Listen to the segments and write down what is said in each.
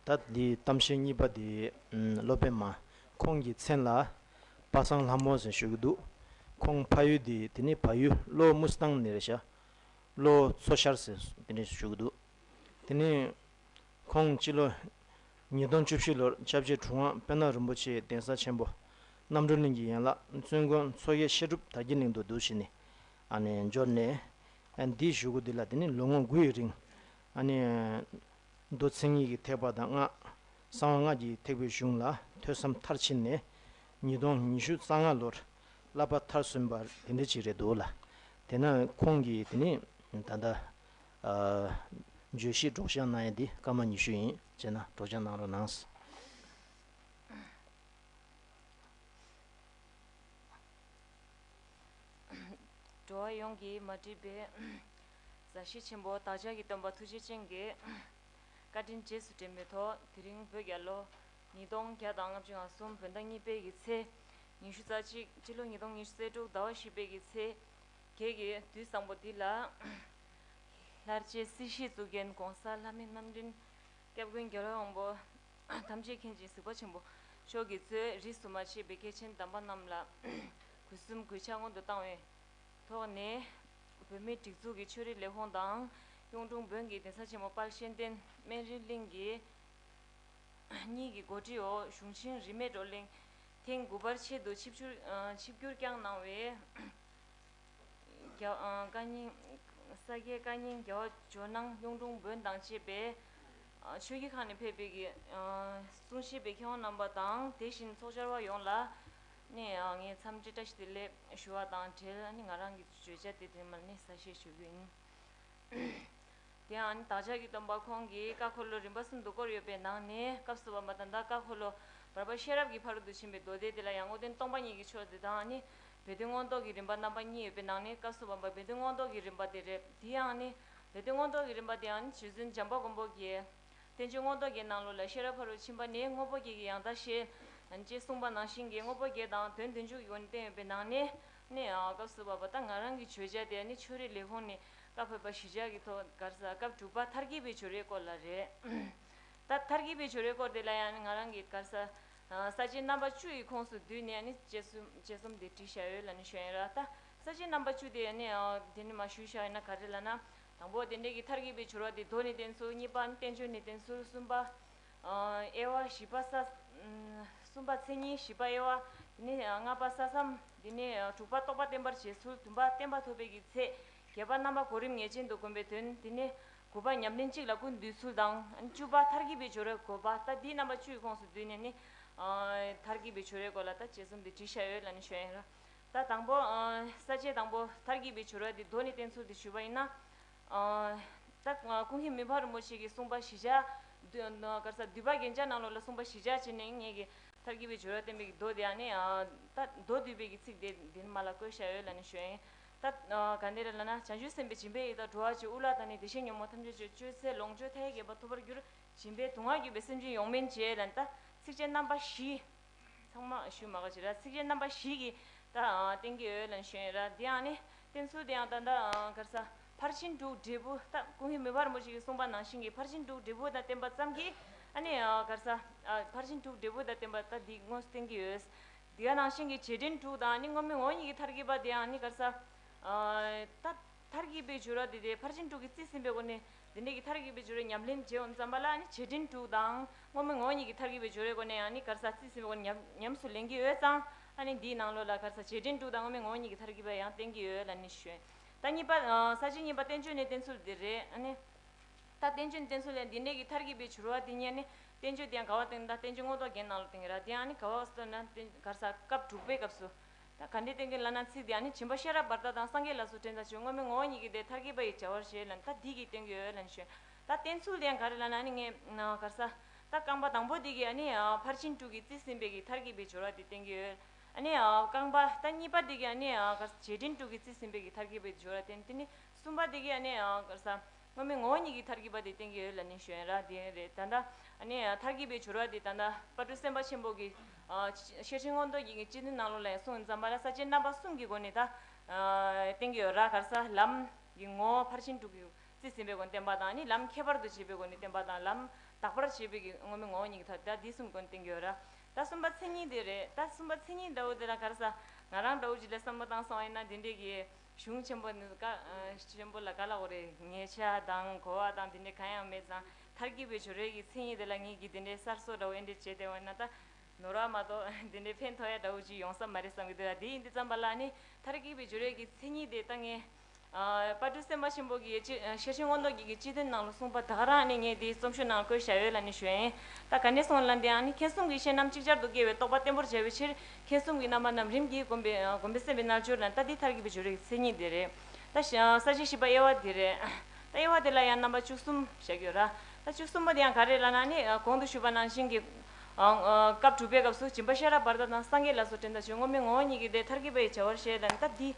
ད་ལྟའི་གཏམ་བཤད་གཉིས་པ་དེ་སློབ་དཔོན་མ་ཁོང་གི་མཚན་ལ་པ་སངས་ལྷ་མོ་ཟེར་ཞུ་གི་འདུག་ཁོང་ཕ་ཡུལ་དེ་དེ་ནི་ཕ་ཡུལ་གློ་དམུ་སྟང་ནེ་རེ་ཤ་གློ་མཚོ་ཤར་ཟེར་དེ་ནས་ཞུ་གི་འདུག་དེ་ནས་ཁོང་སྤྱི་ལོ་ཉིས་སྟོང་བཅུ་བཞི་ལོར་ཆབ་རྗེ་གྲུབ་དབང་དཔལ་ནག་རིན་པོ་ཆེའི་གདན་ས་ཆེན་པོ་རྣམ་གྲོལ་གླིང་གི་ཡན་ལག་བཙུན་དགོན་མཚོ་དབྱེ་བཤད་སྒྲུབ་དར་གྱི་གླིང་དུ་འདུ་བྱེད་ནས་འབྱོར་ནས། འདིའི་བཞུགས་སྒོ་འདི་ལ་དེ་ནས་ལོ་ངོ་དགུ་ཡི་རིང། མདོ་ཚིག་གཉིས་ཀྱི་ཐེག་པ་དང་གསང་བ་སྔགས་ཀྱི་ཐེག་པའི་གཞུང་ལ་ཐོས་བསམ་མཐར་ཕྱིན་ནས་ཉིས་སྟོང་ཉི་ཤུ་རྩ་ལྔ་ལོར་བསླབ་པ་མཐར་སོན་པ་དེ་འདྲ་ཅིག་རེད་འདུག་ལ། དེས་ན་ཁོང་གིས་དེ་ནས་ད་ལྟ་བརྗོད་གཞི་སྒྲོག་སྦྱང་གནང་ཡས་འདི་སྐར་མ་ཉི་ཤུ་ཡིན་བྱས་ན་སྒྲོག་སྦྱང་གནང་རོགས་གནང། འགྲོ་བ་ཡོངས་ཀྱི་མ་བསྒྲིབས་པའི། མཛའ་བཤེས་ཆེན་པོ་བདག་ཅག་གི་སྟོན་པ་ཐུགས་རྗེ་ཅན་གྱི། བཀའ་དྲིན་རྗེས་སུ་དྲན་མི་ཐོག་དེ་རིང་བོད་རྒྱལ་ལོ། ཉིས་སྟོང་བརྒྱ་དང་ལྔ་བཅུ་ང་གསུམ་བོད་ཟླ་གཉིས་དཔལ་གྱི་ཚེས། ཉི་ཤུ་རྩ་གཅིག་སྤྱི་ལོ་ཉིས་སྟོང་ཉེར་བཅུ་ཚེས་དྲུག་ཟླ་བ་བཞི་དཔལ་གྱི་ཚེས། ཁྱེད་ཀྱི་དུས་བཟང་པོ་འདི་ལ། ལྷར་བཅས་སྲིད་ཞིའི་གཙུག་རྒྱན་གོང་ས་ལྷ་མི་རྣམ་འདྲེན། སྐྱབས་ཀུན་རྒྱལ་དབང་པོ། ཐམས་ཅད་མཁྱེན་ཅིང་གཟིགས་པ་ཆེན་པོ། མཆོག་གི་གཙོས་རིས་སུ་མ་ཆད་པའི་མཁས་ཆེན་དམ་པ་རྣམས་ལ། གུས་གསུམ་གུས་ཕྱག་སྔོན་དུ་བཏང་བའི། ཐོག་ནས། བོད་མིའི་སྒྲིག་འཛུགས་ཀྱི་ཆོས་རིག་ལས་ཁུངས་དང། གཡུང་དྲུང་བོན་གྱི་གདན་ས་ཆེན་མོ་དཔལ་གཤེན་བསྟན་སྨན་རིའི་གླིང་གི། གཉིས་ཀྱི་འགོ་ཁྲིད་འོག་གཞུང་ཆེན་རིས་མེད་བགྲོ་གླེང། ཐེངས་དགུ་པར་ཆེད་དུ་ཆིབས་བསྒྱུར་བསྐྱངས་གནང་བའི། ས་སྐྱའི་བཀའ་རྙིང་རྒྱལ་བ་ཇོ་ནང་གཡུང་དྲུང་བོན་དང་བཅས་པས་ཆོས་རྒྱུད་ཁག་ནས་ཕེབས་པའི་གསུང་ཤེས་པའི་མཁས་དབང་རྣམ་པ་དང་དེ་བཞིན་ཚོགས་བཅར་བ་ཡོངས་ལ་ནི་ངའི་འཚམས་འདྲི་བཀྲ་ཤིས་བདེ་ལེགས་ཞུ་བ་དང་འབྲེལ་ནི་ང་རང་གི་བརྗོད་བྱ་དེ་དོན་མེད་ས་བཤད་ཞུ་རྒྱུ་ཡིན། དེའང་ནི་བདག་ཅག་གི་སྟོན་པ་ཁོང་གིས་བཀའ་འཁོར་ལོ་རིམ་པ་གསུམ་དུ་བསྐོར་ཡོད་པའི་ནང་ནས་སྐབས་གསུམ་པ་མ་དང་ད་བཀའ་འཁོར་ལོ་བར་པ་ཤེས་རབ་ཀྱི་ཕ་རོལ་ཏུ་ཕྱིན་པའི་མདོ་སྡེ་དེ་ལ་ཡང་སྔོ་སྟོན་སྟོང་པ་ཉིད་ཀྱི་ཆོས་སྡེ་དང་ནི། བུ་སྟོན་མངོན་རྟོགས་ཀྱི་རིམ་པ་རྣམ་པ་གཉིས་ཡོད་པའི་ནང་ནས་བཀའ་གསུམ་པ་བུ་སྟོན་མངོན་རྟོགས་ཀྱི་རིམ་པ་དེ་རེད་དེའང་ནི་བུ་སྟོན་མངོན་རྟོགས་ཀྱི་རིམ་པ་དེའང་ནི་རྗེ་བཙུན་འཇམ་པ་མགོན་པོ་དགྱེས། བསྟན་བཅོས་རྔོག་བཟླ་བརྒྱད་ནང་ལུགས་ལ་ཤེས་རབ་ཕ་རོལ་ཕྱིན་པ་ནི་དངོས་པོ་བརྒྱད་ཀྱི་ཡང་དག་ཤེས། ཅེས་གསུངས་པ་ནང་བཞིན་གྱི་དངོས་པོ་བརྒྱད་དང་དོན་བདུན་ཅུ་ཡོད་ནི་བསྟན་ཡོད་པའི་ནང་ནས། ནས། སྐབས་གསུམ་པ་བ་ད་ང་རང་གི་བརྗོད་བྱ་དེ་ནི་ཆོས་རའི་ལས་ཁུངས་ནས་བཀའ་ཕེབས་པ་གཞིས་ཆགས་ཀྱི་ཐོག་སྒར་ས་སྐབས་དྲུག་པ་མཐར་གྱིས་པའི་ཆོས་རའི་སྐོར་ལ་རེད། ད་མཐར་གྱིས་པའི་ཆོས་རའི་སྐོར་དེ་ལ་ཡང་ནི་ང་རང་གིས་སྒར་ས། ས་བཅད་རྣམ་པ་བཅུ་ཡི་ཁོངས་སུ་བསྡུས་ནས་ནི་དཔྱད་གསུམ་དཔྱད་གསུམ་དེ་བྲིས་བཞག་ཡོད་ལ་ནི་ཞུ་ཡིན་ར་ད། ས་བཅད་རྣམ་པ་བཅུ་དེ་ནི། དེ་ནི་མ་ཞུས་བཞག་ཡིན་ན་ག་རེ་ལ་ན། དང་པོ་རྟེན་འབྲེལ་གྱི་མཐར་གྱིས་པའི་སྦྱོར་བ་སྟེ་མདོ་ནི་བསྟན་ཟུར་གཉིས་པ་བསྟན་བཅོས་ནི་བསྟན་ཟུར་གསུམ་པ། དབྱེ་བ་བཞི་པ་ས། གསུམ་པ་མཚན་ཉིད་བཞི་པ་དབྱེ་བ། དེ་ནས་ལྔ་པ་ས་བསམ། དེ་ནས་དྲུག་པ་རྟོགས་པ་བརྟན་པར་བྱེད་ཚུལ་བདུན་པ་བསྟན་པ་ཐོབ་པའི་ཀྱི་ཚད། བརྒྱད་པ་རྣམ་པ་གོ་རིམ་ངེས་ཅན་དུ་བསྒོམ་པའི་དོན་དེ་ནས། དགུ་པ་ཉམས་ལེན་གཅིག་ལ་ཀུན་འདུས་ཚུལ་དང། བཅུ་པ་མཐར་གྱིས་པའི་སྦྱོར་བའི་གོ་བ་ལྟ་འདིས་རྣམ་པ་བཅུའི་ཁོངས་སུ་བསྡུས་ནས་ནི། མཐར་གྱིས་པའི་སྦྱོར་བའི་གོ་ལ་ལྟ་བཅས་གསུམ་སྟེ་བྲི་བྱ་ཡོད་ལ་ནི་ཞོན་ཡང་རུང། ད་དང་པོ། ས་བཅད་དང་པོ། མཐར་གྱིས་པའི་བྱོལ་བ་འདི་མདོ་ནས་བསྟན་ཚུལ་དེ་ཞུས་པ་ཡིན་ན། ད་ཀུན་གཞི་མི་ཕ་རིན་པོ་ཆེ་གིས་གསུངས་པ་བཞི་ཆ། དཀར་ས་འདུས་པ་རྒྱན་ཆ་ནང་ལོགས་ལ་གསུངས་པ་བཞི་ཆ་བྱས་ནས་ངེས་ཀྱི་མཐར་གྱིས་པའི་བྱོལ་བ་བསྟན་པའི་མདོ་དེ་ཡང་ནི། ད་མདོ་འདུས་པའི་གི་ཚིག་དེ་འདི་ནི་མ་ལ་བཀོད་བྱ་ཡོད་ལ་ནི་ཞོན་ཡིན། ད་ག་འདི་རེ་ལ་ན་བྱང་ཆུབ་སེམས་དཔའི་སྦྱིན་པའི་ཡིད་དང་འགྲོ་བ་ཅི་དབུ་ལ་དང་ནི་བདེ་གཤེགས་ཉོན་མོངས་ཐམས་ཅད་གཅོད་གཅོད་ཚེ་ལོངས་སྤྱོད་མཐའ་ཡས་རྒྱས་པ་ཐོབ་པར་གྱུར། སྦྱིན་པས་དུག་ལྔ་བསྐྱོད་པའི་སེམས་ཅན་ཡོངས་སྨིན་བྱས་ལ་ནི་ད་ཚིགས་བཅད་རྣམ་པ་བཞི། ཚང་མ་ཞུ་མ་ག་ཅི་ར་ཚིགས་བཅད་རྣམ་པ་བཞི་གི་ད་སྟེང་གི་འོད་ལ་ཞོན་ར་དེ་ཡང་ནི་བསྟན་ཚུལ་དེ་ཡང་ད་ལྟ་གར་ས་ཕར་ཕྱིན་དྲུག་འབྲས་བུ་ད་ཀུན་གཞི་མི་དཔར་མོ་ཞིག་གིས་གསུངས་པ་ནང་བཞིན་གྱི་ཕར་ཕྱིན་དྲུག་འབྲས་བུ་ད་བསྟན་པ་ཙམ་གྱིས་ཨ་ནི་གར་ས་ཕར་ཕྱིན་དྲུག་འབྲས་བུ་ད་བསྟན་པ་ད་འདི་དངོས་སུ་སྟེང་གི་འོད་དེ་ནང་བཞིན་གྱི་བྱེད་འབྲེལ་དྲུག་དང་ནི་དངོས་མེད་ངོ་གཉིས་ཀྱི་མཐར་གྱི་པ་དེ་ཡང་ནི་གར་ས་ད། མཐར་གྱིས་པའི་སྦྱོར་བ་དེ་དེའི་ཕར་ཕྱིན་དྲུག་གིས་རྩིས་ཟིན་པའི་སྒོ་ནས་འདི་འདྲ་གི་མཐར་གྱིས་པའི་སྦྱོར་བའི་ཉམས་ལེན་བྱེད་འོ་མཚམས་པ་ལ་ནི་བྱེད་འབྲིང་དྲུག་དང་བསྔོ་མི་བསྔོ་གཉིས་ཀྱི་མཐར་གྱིས་པའི་སྦྱོར་བའི་སྒོ་ནས་ཡང་ནི་གར་ཟག་རྩིས་ཟིན་པའི་སྒོ་ནས་ཉམས་སུ་ལེན་གྱི་འོད་གཙང་ལ་ནི་འདིའི་ནང་ལོགས་ལ་གར་ཟག་བྱེད་འབྲིང་དྲུག་དང་བསྔོ་མི་བསྔོ་གཉིས་ཀྱི་མཐར་གྱིས་པ་ཡང་བསྟན་གྱི་འོད་ལ་ནི་ཞོན། ད་གཉིས་པ། ས་བཅད་གཉིས་པ་བསྟན་བཅོས་ནི་བསྟན་ཚུལ་འདི་རེད། ད་བསྟན་བཅོས་ནི་བསྟན་ཚུལ་ལས་འདི་འདྲ་གི་མཐར་གྱིས་པའི་སྦྱོར་བ་དེ་ཉིད་ནི་བསྟན་བཅོས་དེ་ཡང་ག་བ་སྟོན་ན་ད་བསྟན་བཅོས་དངོས་རྟོགས་རྒྱན་ནང་ལོགས་དེ་ཡིན་ར་དེ་ཡང་ནི་ག་བ་སྟོན་ན་གར་ཟག་སྐབས་དྲུག་པའི་སྐབས་སུ་ད་ག་འདི་བསྟན་མཁན་ལ་ན་ཚིག་འདི་ཨ་ནི་བྱིན་པ་ཤེས་རབ་བར་དག་དང་སངས་རྒྱས་ལ་སོགས་དྲན་ད་ཆོས་སྔོན་མེད་ངོ་བོ་ཉིད་ཀྱི་དེ་མཐར་གྱིས་པ་ཡི་བྱ་བར་བཞེད་ལ་ད་འདི་གྱིས་བསྟན་དགོས་ལ་ནི་ཞུས། ད་བསྟན་ཚུལ་དེ་ཡང་ག་རེ་ལ་ན་ཨ་ནི་ངས། གར་ས། ད་རྐང་པ་དང་པོ་འདི་གྱིས་ཨ་ནི། ཕར་ཕྱིན་དྲུག་གིས་རྩིས་ཟིན་པའི་གྱི་མཐར་གྱིས་པའི་སྦྱོར་བ་འདི་བསྟན་གྱི། ཨ་ནི། རྐང་པ། ད་གཉིས་པ་འདི་གྱིས་ཨ་ནི། གར་ས། རྗེས་དྲན་དྲུག་གིས་རྩིས་ཟིན་པའི་གྱི་མཐར་གྱིས་པའི་སྦྱོར་བ་བསྟན། ད་ནི་གསུམ་པ་འདི་གྱིས་ཨ་ནི། གར་ས། སྔོན་མའི་ངོ་བོ་ཉིད་ཀྱི་མཐར་གྱིས་པ་དེ་བསྟན་གྱི་ཡོད་ལ་ནི་བཞོན་ར་དེ་རེད་ད། མཐར་གྱིས་པའི་བྱུར་བ་དེ་ད། དཔའ་སྤྲུལ་སེམས་དཔའ་ཆེན་པོ་གི། ཤེར་ཕྱིན་མངོན་རྟོགས་རྒྱན་གྱི་སྤྱི་དོན་སྣང་ལུགས་ལ་ཡང་གསུངས་འཛམ་བྷ་ལ་ས་བཅད་རྣམ་པ་གསུམ་གྱི་སྒོ་ནས་ད། བསྟན་གྱི་ཡོད་ར་གར་ས་ལམ། གྱི་ངོ་བོ་ཕར་ཕྱིན་དྲུག་གི། རྩིས་ཟིན་པའི་སྒོ་ནས་བསྟན་པ་དང་ནི་ལམ་ཁྱད་པར་དུ་བྱེད་པའི་སྒོ་ནས་བསྟན་པ་དང་ལམ། དག་པར་བྱེད་པའི་གི་སྔོན་མའི་ངོ་བོ་ཉིད་ཀྱི་མཐར་ད་དེ་གསུམ་གི་སྒོ་ནས་བསྟན་གྱི་ཡོད་ར། ད་གསུམ་པ་མཚན་ཉིད་དེ་རེད་ད་གསུམ་པ་མཚན་ཉིད་ད་འོ་དེ་ར་གར་ས། ང་རང་ད་འོ་ཇི་ལ་བསམ་བློ་བཏང་སོང་ཨེ་ན་དེ་འདྲའི་གི། གཞུང་ཆེན་པོ་ནི་བཀའ་ཆེན་པོ་ལ་བཀའ་ལ་འོ་རེ་ངེས་ཆ་དང་གོ་བ་དང་དེ་འདྲ་གང་ཡང་མེད་ཙང་མཐར་གྱིས་པའི་ཇོ་རས་ཀྱི་མཚན་ཉིད་དེ་ལ་ངེད་ཀྱིས་དེ་འདྲའི་གསར་བཟོ་འདྲ་བོ་ཨེ་འདྲས་བྱས་ཏེ་འོ་ན་ད་ནོར་བ་མ་གཏོགས་དེ་འདྲའི་ཕན་ཐོགས་ཡ་འདྲ་བོ་ཅིག་ཡོང་ས་མ་རེད་བསམ་གྱི་འདུག་ཡ་དེ་ཡིན་དུས་བརྩམས་པ་ལ་ནི་མཐར་གྱིས་པའི་ཇོ་རས་ཀྱི་མཚན་ཉིད་དེ་ད་ངས་དཔའ་སྤྲུལ་སེམས་དཔའ་ཆེན་པོ་གྱི་ཡེ་ཆེ་ཤེར་ཕྱིན་དབང་རྡོ་རྗེས་ཀྱི་སྤྱི་དོན་ནང་ལ་གསུངས་པ་དག་རང་ནི་ངས་དེའི་རྩོམ་ཤོག་ནང་བཀོད་བཞག་ཡོད་ལ་ནི་ཞོན། ད་ག་ནས་སོང་ལ་འདིའང་ནི་མཁྱེན་གསུམ་གྱི་ཤེས་རྣམ་ཅིག་ཅར་དུ་སྐྱེ་བའི་རྟོགས་པ་བརྟན་པོར་བྱ་བའི་ཕྱིར་མཁས་གསུམ་གྱི་རྣམ་པ་རྣམས་རིམ་གྱིས་གོམས་པས་གོམས་པས་སེམས་པའི་རྣལ་འབྱོར་དང་རྟ་དེའི་མཐར་གྱིས་པའི་སྦྱོར་བའི་མཚན་ཉིད་དེ་རེད། རྟ་ཞེས་ས་བཅད་བཞི་པ་དབྱེ་བ་དེ་རེད། རྟ་དབྱེ་བ་དེ་ལ་ཡང་རྣམ་པ་བཅུ་གསུམ་ཞེས་བརྗོད། རྟ་བཅུ་གསུམ་པོ་དེ་ཡང་ག་རེ་ལ་ན་ནི་གོང་དུ་ཞུས་པ་ནང་བཞིན་གྱི། སྐབས་དྲུག་པའི་སྐབས་སུ་སྦྱིན་པ་ཤེས་རབ་བར་དོ་དང་སངས་རྒྱས་ལ་སོགས་དྲན་དང་བྱོན་ངོ་མི་ངོ་བོ་ཉིད་ཀྱི་སྟེ་མཐར་གྱིས་པ་ཡི་བྱ་བར་བཤད་དང་སྟབས་འདི།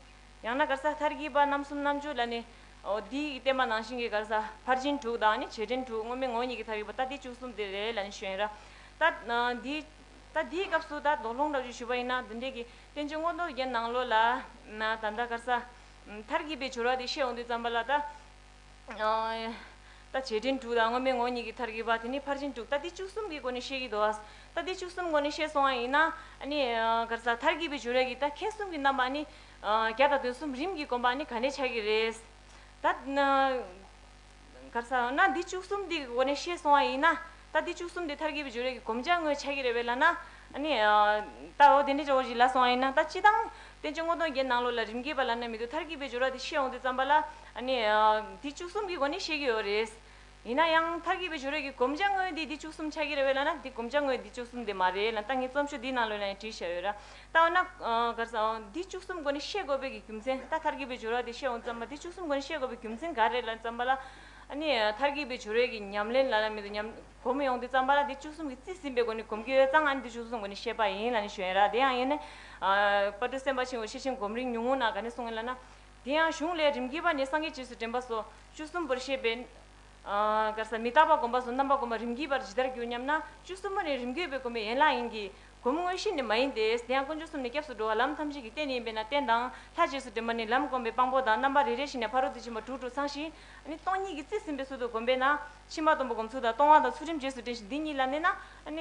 ཡང་ན་གར་ས་མཐར་གྱིས་པ་རྣམ་གསུམ་རྣམ་བཅུ་ལ་ནི། འདི་ཡིས་བསྟན་པ་ནང་བཞིན་གྱི་གར་ས་ཕར་ཕྱིན་དྲུག་དང་ནི་བྱེད་འབྲེལ་དྲུག་ངོ་མི་ངོ་ཉིད་ཀྱི་མཐར་གྱིས་པ་རྟ་དེའི་བཅུ་གསུམ་དེ་རེད་ལ་ནི་བཤད། རྟ་འདིའི། ད་འདིའི་སྐབས་སུ་ད་དོགས་སློང་གྲགས་བརྗོད་ཞུས་པ་ཡིན་ན་བདུན་འགྲེལ་གྱི་བསྟན་བཅོས་སྔོན་འགྲོ་རྒྱན་ནང་ལོ་ལ། ད་ལྟ་སྐར་ས། མཐར་གྱིས་པའི་སྦྱོར་བ་དེ་བཤད་འོང་དུས་བརྩམས་པ་ལ། ད་བྱེད་འབྲིང་དྲུག་དང་སྔོན་མའི་ངོ་གཉིས་ཀྱི་མཐར་གྱིས་པ་དེ་ནི་ཕར་ཕྱིན་དྲུག་ད་འདི་བཅུ་གསུམ་གྱི་སྒོ་ནས་བཤད་ཀྱི་འདུག་ཨ། ད་འདི་བཅུ་གསུམ་སྒོ་ནས་བཤད་སོང་བ་ཡིན་ན། སྐར་ས། མཐར་གྱིས་པའི་སྦྱོར་བ་གྱི་ད་མཁས་གསུམ་གྱི་རྣམ་པ་ནི། བརྒྱ་དང་དོན་གསུམ་རིམ་གྱིས་བསྒོམ་པ་ནི་ག་ནས་ཆགས་ཀྱི་རེད། ད། གར་ས་ཡོང་ན་འདི་བཅུ་གསུམ་འདི་གོ་ནས་ཤེས་སོང་བ་ཡིན་ན་ད་འདི་བཅུ་གསུམ་འདི་མཐར་གྱིས་པའི་བྱུ་རས་ཀྱི་གོམ་ལྕག་ངོས་ཆགས་ཀྱི་རེད་པས་ལ་ན་ནི། ད་འོ་དེ་འདྲའི་ཇོ་བོ་ཞིག་ལ་སོང་བ་ཡིན་ན་ད་ཅི་སྟངས་བསྟན་བཅོས་སྔོ་གདོང་བརྒྱད་ནང་ལོགས་ལ་རིམ་གྱིས་པ་ལ་ན་མི་འདུག་མཐར་གྱིས་པའི་བྱུ་ར་དེ་ཤེས་འོང་དུས་བརྩམས་པ་ལ་ནི། འདི་བཅུ་གསུམ་གྱི་གོ་ནས་ཤེས་ཀྱི་ཡོད་རེད། ཡིན་ན་ཡང་མཐར་གྱིས་པའི་བྱུ་རས་ཀྱི་གོམ་ལྕག་ངོས་འདི་འདི་བཅུ་གསུམ་ཆགས་ཀྱི་རེད་པས་ལ་ན་འདི་གོམ་ལྕག་ངོས་འདི་བཅུ་གསུམ་དེ་མ་རེད་ལ་ད་ངས་རྩོམ་ཤོག་འདིའི་ནང་ལོས་ན་ཡང་བྲིས་བཞག་ཡོད་ར། བཏང་ན། གར་ས། འདི་བཅུ་གསུམ་སྒོ་ནས་ཤེས་དགོས་པའི་རྒྱུ་མཚན་ད་མཐར་གྱིས་པའི་སྦྱོར་བ་དེ་བཤད་འོང་བརྩམས་པ་འདི་བཅུ་གསུམ་སྒོ་ནས་ཤེས་དགོས་པའི་རྒྱུ་མཚན་ག་རེ་ལ་བརྩམས་པ་ལ། ནི། མཐར་གྱིས་པའི་སྦྱོར་བས་ཀྱི་ཉམས་ལེན་ལ་ལ་མེད་དོ་སྙམ། གོམས་ཡོང་སྟེ་བརྩམས་པ་ལ་འདི་བཅུ་གསུམ་གྱི་རྩིས་ཟིན་པའི་སྒོ་ནས་གོམས་ཀྱི་ཡོད་ཙང་ཨ་ནི་འདི་བཅུ་གསུམ་སྒོ་ནས་ཤེས་པ་ཡིན་ལ་ནི་ཞོན་ར་དེ་ཡང་ཡིན། པར་དུ་སེམས་དཔའ་ཆེན་པོ་ཤེས་ཕྱིན་གོམས་རིམ་ཉུང་ངུ་ན་ག་ནི་གསུངས་ཡིན་ལ་ན། དེ་ཡང་གཞུང་ལས་རིམ་གྱིས་པ་ནས་སངས་རྒྱས་རྗེས་སུ་དྲན་པ་སོགས་བཅུ་གསུམ་པོར་བཤད་པས། གར་ས། མི་རྟག་པ་སྒོམ་པ་སོགས་རྣམ་པ་སྒོམ་པ་རིམ་གྱིས་པར་ཇི་ལྟར་འགྱུར་སྙམ་ན་བཅུ་གསུམ་པོ་ནི་རིམ་གྱིས་པའི་སྒོམ་པའི་ཡན་ལག་ཡིན་གྱི། སྒོམ་དངོས་གཞི་ནི་མ་ཡིན་ཏེ། དེ་ཡང་དཀོན་མཆོག་གསུམ་ནི་སྐྱབས་སུ་འགྲོ་བ་ལམ་ཐམས་ཅད་ཀྱི་རྟེན་ཡིན་པས་ན་རྟེན་དང། ལྷ་རྗེས་སུ་འབྲེལ་མ་ནི་ལམ་བསྒོམ་པའི་དཔང་པོ་དང་རྣམ་པ་རེ་རེ་བཞིན་ནས་ཕ་རོལ་ཏུ་ཕྱིན་པ་དྲུག་དྲུག་ཚང་ཞིང། སྟོང་ཉིད་ཀྱི་རྩིས་ཟིན་པའི་ཚུལ་དུ་བསྒོམས་པས་ན། ཕྱི་མ་སྡོམ་པ་སྒོམ་ཚུལ་དང་སྟོང་བ་དང་ཚུལ་ཁྲིམས་རྗེས་སུ་དྲན་ཞིང་འདི་ཉིད་ལ་གནས་ན།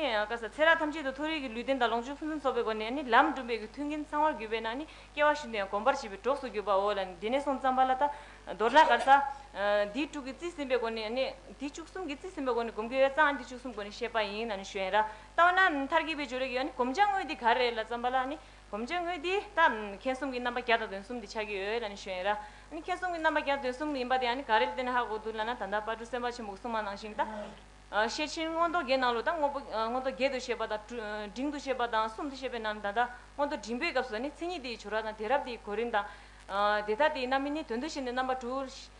ཚེ་རབས་ཐམས་ཅད་དུ་མཐོ་རིས་ཀྱི་ལུས་རྟེན་དང་ལོངས་སྤྱོད་ཕུན་སུམ་ཚོགས་པའི་སྒོ་ནས་ལམ་བསྒྲུབ་པའི་མཐུན་རྐྱེན་ཚང་བར་གྱུར་པས་ན་སྐྱེ་བ་བཞིན་དུ་ཡང་གོམས་པར་བྱེད་པའི་གྲོགས་སུ་གྱུར་པའོ། ལན། དེ་ནས་སོང་ཙམ་པ་ལ་ད། མདོར་ན་གར་ས། འདི་དྲུག་གི་རྩིས་ཟིན་པའི་སྒོ་ནས། འདི་བཅུ་གསུམ་གྱི་རྩིས་ཟིན་པའི་སྒོ་ནས་བསྒོམ་དགེ་བའི་རྩ་འདི་བཅུ་གསུམ་སྒོ་ནས་བཤད་པ་ཡིན། ན་ནི་གཞན། ལྟ་བ་ན་མཐར་གྱིས་པའི་སྦྱོར་རིགས་ཡོད་ནི་གོམས་བྱ་དངོས་དེ་ག་རེ་ལ་བརྩམས་པ་ལ་ནི་གོམས་བྱ་དངོས་དེ་ལྟ་མཁན་གསུམ་གྱི་རྣམ་པ་བརྒྱ་དང་དོན་གསུམ་དེ་ཆགས་ཀྱི་ཡོད་ལ་ནི་ཞོན་ར་ནི་མཁན་གསུམ་གྱི་རྣམ་པ་བརྒྱ་དང་དོན་གསུམ་ཡིན་པ་དེ་ཡང་ནི་ག་རེ་ལ་བརྟེན་ན་ཧ་གོ་འདུག་ལ་ན་ད་ལྟ་དཔའ་སྤྲུལ་སེམས་དཔའ་ཆེན་པོ་གསུང་མ་གནང་ཞིང་ད་ཤེར་ཕྱིན་མངོན་རྟོགས་བརྒྱད་གནང་ལུགས་དང་མངོན་རྟོགས་བརྒྱད་དུ་བཤད་པ་དང་འབྲིང་དུ་བཤད་པ་དང་གསུམ་དུ་བཤད་པའི་ནང་ནས་ད་ལྟ་མངོན་རྟོགས་འབྲིང་པོའི་སྐབས་སུ་ནི་མཚན་ཉིད་དེའི་སྦྱོར་བ་དང་དེ་རབ་དེའི་གོ་རིམ་དང། དེ་ལྟར་དེའི་རྣམ་སྨིན་ནི་དོན་དུ་བྱས་ནས་རྣམ་པ་དྲུག།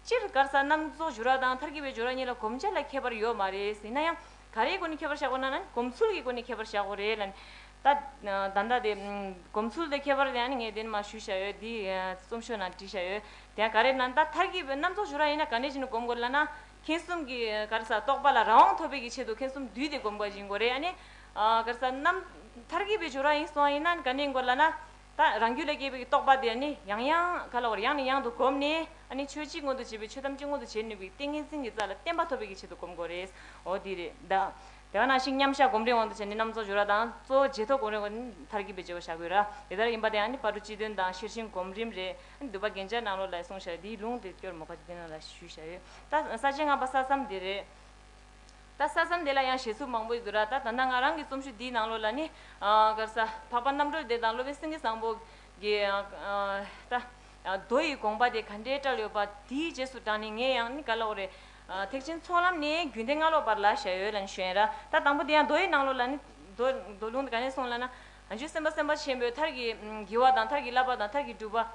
སྤྱིར་སྒར་ས་རྣམས་བཙོག་འཇུ་ར་དང་མཐར་སྐྱེལ་བའི་འཇུ་ར་གཉིས་ལ་གོམས་ཆ་ལ་ཁྱད་པར་ཡོད་མ་རེད་ཟེར་ན་ཡང། ག་རེའི་སྒོ་ནས་ཁྱད་པར་བཞག་པ་ན་ན་གོམས་ཚུལ་གྱི་སྒོ་ནས་ཁྱད་པར་བཞག་པ་རེད་ལ། ད་ལྟ་དེ། གོམས་ཚུལ་དེ་ཁྱད་པར་དེ་ཡང་ངས་འདི་ནས་མ་ཞུས་བཞག་ཡོད་འདིའི་རྩོམ་ཤོག་ནང་བྲིས་བཞག་ཡོད། དེ་ཡང་ག་རེ་ན་ད་མཐར་སྐྱེལ་བའི་རྣམས་བཙོག་འཇུ་ར་ཡིན་ན་ག་ནས་བྱས་ནས་གོམས་དགོས་ལ་ན། ཁེངས་གསུམ་གྱི་སྒར་ས་བཏོག་པ་ལ་རང་དབང་ཐོབ་པའི་གི་ཆེད་དུ་ཁེངས་གསུམ་བསྡུས་ཏེ་གོམས་དགོས་ཀྱི་འགོ་རེད་ཨ་ནི། སྒར་ས་རྣམས་མཐར་སྐྱེལ་བའི་འཇུ་ར་ཡིན་སོང་ཡིན་ན་ག་ནས་འགོ་ལ་ན། ད་རང་རྒྱུད་ལས་སྐྱེས་པའི་རྟོག་པ་དེ་ནི་ཡང་ཡང་ག་ལ་བར་ཡང་ནས་ཡང་དུ་བསྒོམས་ནས་ནི་ཆོས་གཅིག་མངོན་དུ་བྱེད་པའི་ཆོས་ཐམས་ཅད་མངོན་དུ་བྱེད་ནུས་པའི་ཏིང་ངེ་འཛིན་གྱི་རྩ་ལ་བརྟན་པ་ཐོབ་པའི་ཆེད་དུ་བསྒོམ་དགོས་རེད། འོ་དེ་རེད་ད། དེ་བས་ན་ཞིག་མཉམ་བཞག་སྒོམ་རེས་དབང་དུ་བྱས་ནས་རྣམ་རྫོགས་སྦྱོར་བ་དང་གཙོ་བོ་རྗེས་ཐོབ་སྒོམ་རེས་དབང་དུ་མཐར་གྱིས་པའི་སྦྱོར་བ་བྱ་དགོས་ར་དེ་ལྟར་ཡིན་པ་དེའང་ནི་བར་དོ་སྤྱི་དོན་དང་ཤེར་ཕྱིན་སྒོམ་རིམ་རེད། བསྡུས་པ་རྒྱན་ཆ་ནང་ལོགས་ལ་གསུངས་བཞག་དེའི་ལུང་དེ་སྐྱོར་མོ་ཁ་ཅིག་འདི་རྣམས་ལ་ཞུས་བཞག་ཡོད། ད་ས་བཅད་ལྔ་པ་ས་མཚམས་དེ་རེད། ད་ས་སམ་དེ་ལ་ཡང་བཞེད་ཚུལ་མང་པོ་ཡོད་དོ་ར་ད་ད་ནང་ང་རང་གི་རྩོམ་ཞུ་འདིའི་ནང་ལོགས་ལ་ནི་གར་ས་འཕགས་པ་རྣམ་གྲོལ་བདེ་དང་སློབ་དཔོན་སེང་གེ་བཟང་པོ་གི་ད་རྡོ་ཡི་དགོངས་པ་དེ་ག་འདྲའི་བཀྲལ་ཡོད་པ་དེའི་རྗེས་སུ་འབྲངས་ནས་ངས་ཡང་ནི་ག་ལ་འོ་རེད། ཐེག་ཆེན་ཚོགས་ལམ་ནི་རྒྱུན་ལྡན་སྔ་ལོགས་པར་ལ་ཞལ་ཡོད་ལ་ནི་བཞོན་ར་ད་དང་པོ་དེ་ཡང་རྡོ་ཡི་ནང་ལོགས་ལ་ནི་རྡོ་ལུང་དེ་ག་ནས་སོང་ལ་ན། འཇུ་སེམས་དཔའ་སེམས་དཔའ་ཆེན་པོའི་མཐར་གྱིས་བགྱི་བ་དང་མཐར་གྱིས་བསླབ་པ་དང་མཐར་གྱིས་སྒྲུབ་པ།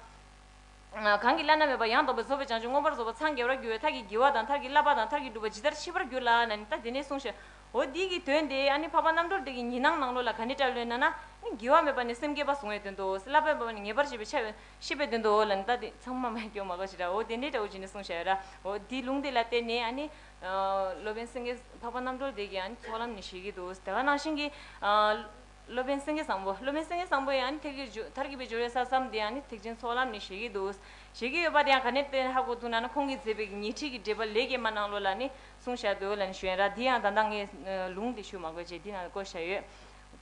གང་གིས་བླ་ན་མེད་པ་ཡང་དག་པའི་རྫོགས་པའི་བྱང་ཆུབ་མངོན་པར་རྫོགས་པ་འཚང་རྒྱ་བར་འགྱུར་བའི་མཐར་གྱིས་བགྱི་བ་དང་མཐར་གྱིས་བསླབ་པ་དང་མཐར་གྱིས་བསྒྲུབ་པ་ཇི་ལྟར་མཆིས་པར་གྱུར་ལ་ན་ནི་ད་དེ་ནས་གསུངས་ཤིག། འོ་འདི་ཀྱི་དོན་ཏེ་ཨ་ནི་འཕགས་པ་རྣམ་གྲོལ་དེ་ཀྱི་ཉི་སྣང་ནང་ལོགས་ལ་ག་ནི་སྐྲ་བློན་ན་ན་ནི་བགྱི་བ་མེད་པ་ནི་སེམས་བསྐྱེད་པ་གཟུང་བའི་དོན་ཏོ། བསླབ་པའི་བ་ནི་ངེས་པར་བྱེད་པའི་ཆ་ཤེས་པའི་དོན་ཏོ་ལ་ནི་ད་དེ་ཚང་མ་མ་སྐྱོ་མ་གོ་ཞེས་འོ་དེ་འདྲའི་སྒྲ་འོ་ཇི་ནས་གསུངས་ཤེས་ར་འོ་དེའི་ལུང་དེ་ལ་བརྟེན་ནས་ཨ་ནི། སློབ་དཔོན་སེང་གེས་འཕགས་པ་རྣམ་གྲོལ་དེ་ཀྱི་ཨ་ནི་ཚོགས་ལམ་ནི་བཞེས་ཀྱི་འདུག་དེ་ཀ་ནང་བཞིན་གྱི། སློབ་དཔོན་སེང་གེ་བཟང་པོ་སློབ་དཔོན་སེང་གེ་བཟང་པོ་ཡང་ནི་ཐེག་བརྒྱུད་བརྒྱུད་མཐར་གྱིས་པའི་སྦྱོར་བའི་ས་བསམ་འདི་ཡང་ནི་ཐེག་ཆེན་ཚོགས་ལམ་ནི་བཞེད་ཀྱི་འདུག་བཞེད་ཀྱི་ཡོད་པ་དེ་ཡང་ག་ནས་བསྟན་ཧ་གོ་ཐུག་ན་ནི་ཁོང་གིས་མཛད་པའི་ཉི་ཁྲིས་ཀྱི་འགྲེལ་པ་ལེགས་སྐྱེས་མ་གནང་ལོ་ལ་ནི་གསུངས་བཞག་འདུག་ལ་ནི་ཞོན་ར་འདི་ཡང་ད་ལྟ་ངས་ལུང་དེ་ཞུ་མ་དགོས་ཅེས་འདི་ན་བཀོད་བཞག་ཡོད།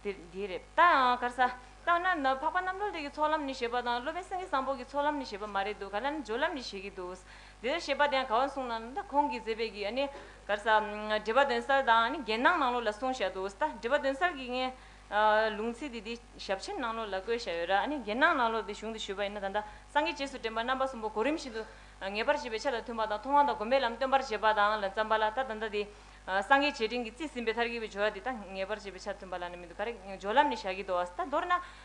དེ་དེའི་རེད། ད་ཡང་གར་ས། ལྟ་ན་ན་འཕགས་པ་རྣམ་གྲོལ་ཐེག་གི་ཚོགས་ལམ་ནི་བཞེད་པ་དང་སློབ་དཔོན་སེང་གེ་བཟང་པོ་གྱི་ཚོགས་ལམ་ནི་བཞེད་པ་མ་རེད་འདུག་ག་ལ་ནི་སྦྱོར་ལམ་ནི་བཞེད་ཀྱི་འདུག། འདིར་བཤད་པ་དེའང་ག་བ་གསུངས་ན་ད་ཁོང་གིས་མཛད་པའི་གི་ནི། ག་རེ་ས། འགྲེལ་པ་དོན་གསལ་དང་ནི་རྒྱན་སྣང་ནང་ལོགས་ལ་གསུངས་བཞག་འདུག་ད་འགྲེལ་པ་དོན་གསལ་གྱི་ནི། ལུང་ཚིག་དེ་དེ་ཞབས་ཕྱི་ནང་ལོགས་ལ་བཀོད་བཞག་ཡོད་ར་ནི་རྒྱན་སྣང་ནང་ལོགས་དེ་གཞུང་དུ་བཞུགས་པ་ཡིན་ན་ད་ད་སངས་རྒྱས་རྗེས་སུ་དྲན་པ་རྣམ་པ་གསུམ་པོ་གོ་རིམ་བཞིན་དུ། ངེས་པར་བྱེད་པའི་ཆ་དང་མཐུན་པ་དང་མཐོང་བ་དང་སྒོམ་པའི་ལམ་སྟོན་པར་བྱེད་པ་དང་ལ་བརྩམས་པ་ལ་ད་ད་ལྟ་དེ། སངས་རྒྱས་བྱེ་བྲིན་གྱི་རྩིས་ཟིན་པའི་མཐར་གྱིས་པའི་སྦྱོར་བ་དེ་ད་ངེས་པར་བྱེད་པའི་ཆ་མཐུན་པ་ལ་ནི་མི་འདུག་ག་རེ་སྦྱོར་ལམ་ནི་བཞག་གི་འདུག་བ་ད་མདོར་ན།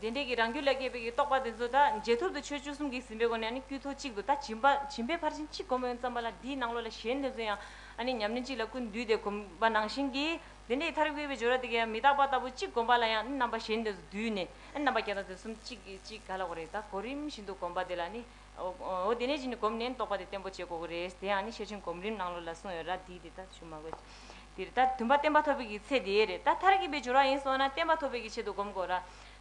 དེ་འབྲས་ཀྱི་རང་རྒྱུད་ལ་སྐྱེས་པའི་རྟོག་པ་དེ་ཚོ་དག་རྗེས་ཐོབ་ཏུ་ཆོས་བཅུ་གསུམ་གྱིས་ཟིན་པའི་སྒོ་ནས་དཀྱུས་ཐོ་གཅིག་ཏུ་ད་བྱིན་པ་བྱིན་པའི་ཕར་ཕྱིན་གཅིག་བསྒོམ་ཡོན་བརྩམས་པ་ལ་དེའི་ནང་ལོགས་ལ་གཞན་དེ་ཚོ་ཡང་ཉམས་ལེན་གཅིག་ལ་ཀུན་བསྡུས་ཏེ་བསྒོམ་པ་ནང་བཞིན་གྱི་དེ་འདྲའི་མཐར་དབྱེ་བའི་སྦྱོར་བ་དེ་གའི་མི་རྟག་པ་ལྟ་བུ་གཅིག་བསྒོམ་པ་ལ་ཡང་རྣམ་པ་གཞན་དེ་ཚོ་བསྡུས་ནས་རྣམ་པ་བརྒྱ་དང་དོན་གསུམ་གཅིག་གིས་གཅིག་ག་ལ་བ་རེ་ད་གོ་རིམ་བཞིན་དུ་བསྒོམ་པ་དེ་ལ་ནི་འོ་དེ་ནས་གཞི་ནས་གོམས་ནན་རྟོགས་པ་དེ་བརྟན་པོ་བྱེད་དགོས་ཀྱི་རེད་དེ་ཡང་ནི་ཤེར་ཕྱིན་གོམས་རིམ་ནང་ལོ་ལ་གསུངས་ཡོད་ར་འདི་དེ་ལྟར་ཞུ་མ་དགོས་འདིར་ད་དུམ་པ་བསྟན་པ་ཐོབ་པའི་གི་ཚེ་དེའི་རེད་ད་མཐར་གྱིས་པའི་སྦྱོར་བ་ཡིན་སོང་ན་བསྟན་པ་ཐོབ་པའི་གི་ཆེད་དུ་གོམས་དགོས་ར་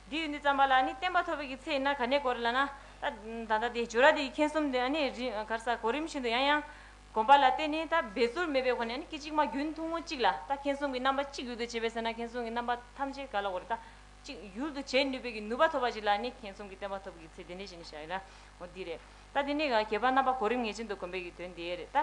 འདི་ཡོད་འདི་བརྩམས་པ་ལ་ནི་བསྟན་པ་ཐོབ་པའི་གི་ཚེ་ཡིན་ན་ག་ནས་གོ་རེ་ལ་ན་ད་ད་ལྟ་དེ་སྦྱོར་བ་དེ་མཁྱེན་གསུམ་དེ་ནི་གར་ས་གོ་རིམ་བཞིན་དུ་ཡང་ཡང་གོམས་པ་ལ་བརྟེན་ནས་ད་འབད་རྩོལ་མེད་པའི་གོ་ནས་ནི་སྐད་ཅིག་མ་རྒྱུན་ཐུང་ངུ་གཅིག་ལ་ད་མཁྱེན་གསུམ་གི་རྣམ་པ་གཅིག་ཡོད་དོ་བྱས་པས་ཟེར་ན་མཁྱེན་གསུམ་གི་རྣམ་པ་ཐམས་ཅད་ག་ལ་གོ་རེ་ད། ཅིག་ཡུལ་དུ་བྱེད་ནུས་པའི་ཀྱི་ནུས་པ་ཐོབ་པ་ཞིག་ལ་ནི་ཁེངས་གསུམ་གྱི་བསྟན་པ་ཐོབ་ཀྱི་ཚེ་དེ་འདྲའི་ཞིག་ནི་བྱ་ཡི་ན་འོ་འདི་རེད། ད་དེ་ནས་ཀྱང་བརྒྱད་པ་རྣམ་པ་གོ་རིམ་ངེས་ཅན་དུ་གོམས་པའི་ཀྱི་དོན་དེ་རེད། ད་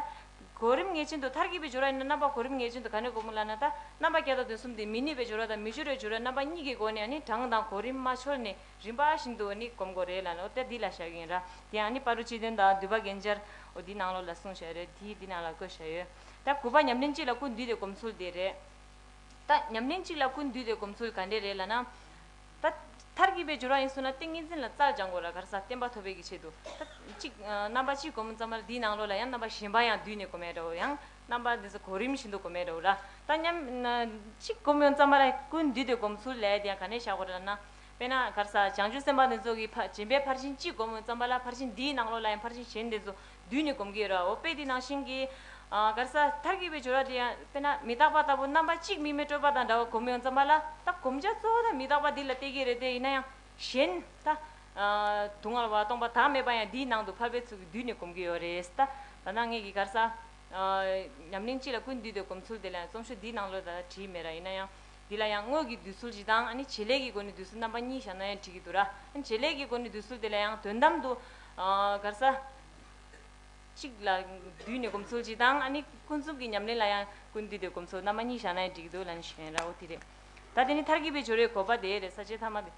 གོ་རིམ་ངེས་ཅན་དུ་མཐར་གྱིས་པའི་སྦྱོར་བ་ཡིན་ན་རྣམ་པ་གོ་རིམ་ངེས་ཅན་དུ་ག་ནས་གོ་མི་ལ་ན་ད་རྣམ་པ་བརྒྱ་དང་དོན་གསུམ་དེ་མི་ནུས་པའི་སྦྱོར་བ་དང་མི་སྦྱོར་བའི་སྦྱོར་བ་རྣམ་པ་གཉིས་ཀྱི་སྒོ་ནས་ནི་གྲངས་དང་གོ་རིམ་མ་འཆོལ་ནས་རིམ་པ་བཞིན་དུ་ནི་གོམས་དགོས་རེད་ལ་ནི་འོ་ད་འདི་ལ་བྱ་ཡི་ཡིན་ར་དེ་ཡང་ནི་པ་རུ་སྤྱི་དོན་དང་བསྡུས་པ་རྒན་སྦྱར་འོ་འདི་ནང་ལོགས་ལ་གསུངས་བྱ་ཡི་རེད་དེ་འདི་ནང་ལ་བཀོད་བྱ་ཡོད། ད་དགུ་པ་ཉམས་ལེན་གཅིག་ལ་ཀུན་འདུས་ཏེ་གོམས་ཚུལ་དེ་རེད། ད་ཉམས་ལེན་གཅིག་ལ་ཀུན་འདུས་དེ་སྒོམ་ཚུལ་ག་འདྲས་རེད་ལ་ན། ད། མཐར་གྱིས་པའི་སྦྱོར་བ་ཡིན་གསུངས་ན་ཏིང་ངེ་འཛིན་ལ་རྩལ་སྦྱང་དགོས་ལ་གར་ས་བསྟན་པ་ཐོབ་པའི་གི་ཆེད་དུ། ད། གཅིག། རྣམ་པ་གཅིག་སྒོམ་ཙམ་མར་དེའི་ནང་ལོགས་ལ་ཡང་རྣམ་པ་གཞན་པ་ཡང་བསྡུས་ནས་སྒོམ་ཡ་འདྲ་བོ་ཡང། རྣམ་པ་འདི་ཚོ་གོ་རིམ་བཞིན་དུ་སྒོམ་ཡ་འདྲ་བོ་ལ། ད་ཉམས། གཅིག་སྒོམ་ཡོང་ཙམ་མ་ལ་ཀུན་འདུས་དེ་སྒོམ་ཚུལ་ལས་དེ་ཡང་ག་འདྲས་བཞག་དགོས་རེད་ལ་ན། དཔེར་ན་གར་ས་བྱང་ཆུབ་སེམས་དཔའ་འདི་ཚོ་གི་ཕ་སྦྱིན་པའི་ཕར་ཕྱིན་གཅིག་སྒོམ་ཡོང་ཙམ་མ་ལ་ཕར་ཕྱིན་འདིའི་ནང་ལོགས་ལ་ཡང་ཕར་ཕྱིན་གཞན་འདི་ཚོ་བསྡུས་ནས་བསྒོམ་གྱིས་རའོ། དཔེ་འདི་ནང་བཞིན་གྱིས། གར་ས། མཐར་གྱིས་པའི་སྦྱོར་བ་འདི་ཡང་དཔེར་ན་མི་རྟག་པ་ལྟ་བུ་རྣམ་པ་གཅིག་དམིགས་མེད་སྤྲོས་པ་དང་འདྲ་བར་བསྒོམ་ཡོང་ཙམ་མ་ལ་ད་བསྒོམ་བྱ་གཙོ་བོ་ནི་མི་རྟག་པ་འདི་ལ་གཏད་ཀྱི་རེད་དེ་ཡིན་ན་ཡང་གཞན། ད། དུག་ལྔ་ལ་བ་སྟོང་པ་དག་མེད་པ་ཡང་འདིའི་ནང་དུ་ཕར་པའི་ཚུལ་གྱིས་བསྡུས་ནས་བསྒོམ་གྱི་ཡོད་རེད་ད། ད་ནངས་ཀྱི་གར་ས། ཉམས་ལེན་སྤྱི་ལ་ཀུན་བསྡུས་དེ་བསྒོམ་ཚུལ་དེ་ལ་ཡང་རྩོམ་ཤོག་འདིའི་ནང་ལོ་ད་བྲིས་མེད་ར་ཡིན་ན་ཡང། འདི་ལ་ཡང་དངོས་ཀྱི་འདུས་ཚུལ་བཞི་དང་ནི་བྱེད་ལས་ཀྱི་སྒོ་ནས་འདུས་ཚུལ་རྣམ་པ་གཉིས་བཞག་ན་ཡང་འགྲིག་གི་འདུག་ར། བྱེད་ལས་ཀྱི་སྒོ་ནས་འདུས་ཚུལ་དེ་ལ་ཡང་དོན་དམ་དུ། གར་ས། གཅིག་ལ་བསྡུས་ནས་སྒོམ་ཚུལ་གྱིས་དང་ནི་ཀུན་རྫོབ་ཀྱི་ཉམས་ལེན་ལ་ཡང་ཀུན་བསྡུས་ཏེ་སྒོམ་ཚུལ་རྣམ་པ་གཉིས་བཞག་ན་ཡང་འགྲིག་གི་འདུག་ལ་ནི་ཞེས་ན་ར་འོ་དེ་རེད། ད་དེ་ནི་མཐར་གྱིས་པའི་སྦྱོར་བའི་གོ་བ་དེའི་རེད་ས་བཅད་ཐ་མ་དེ།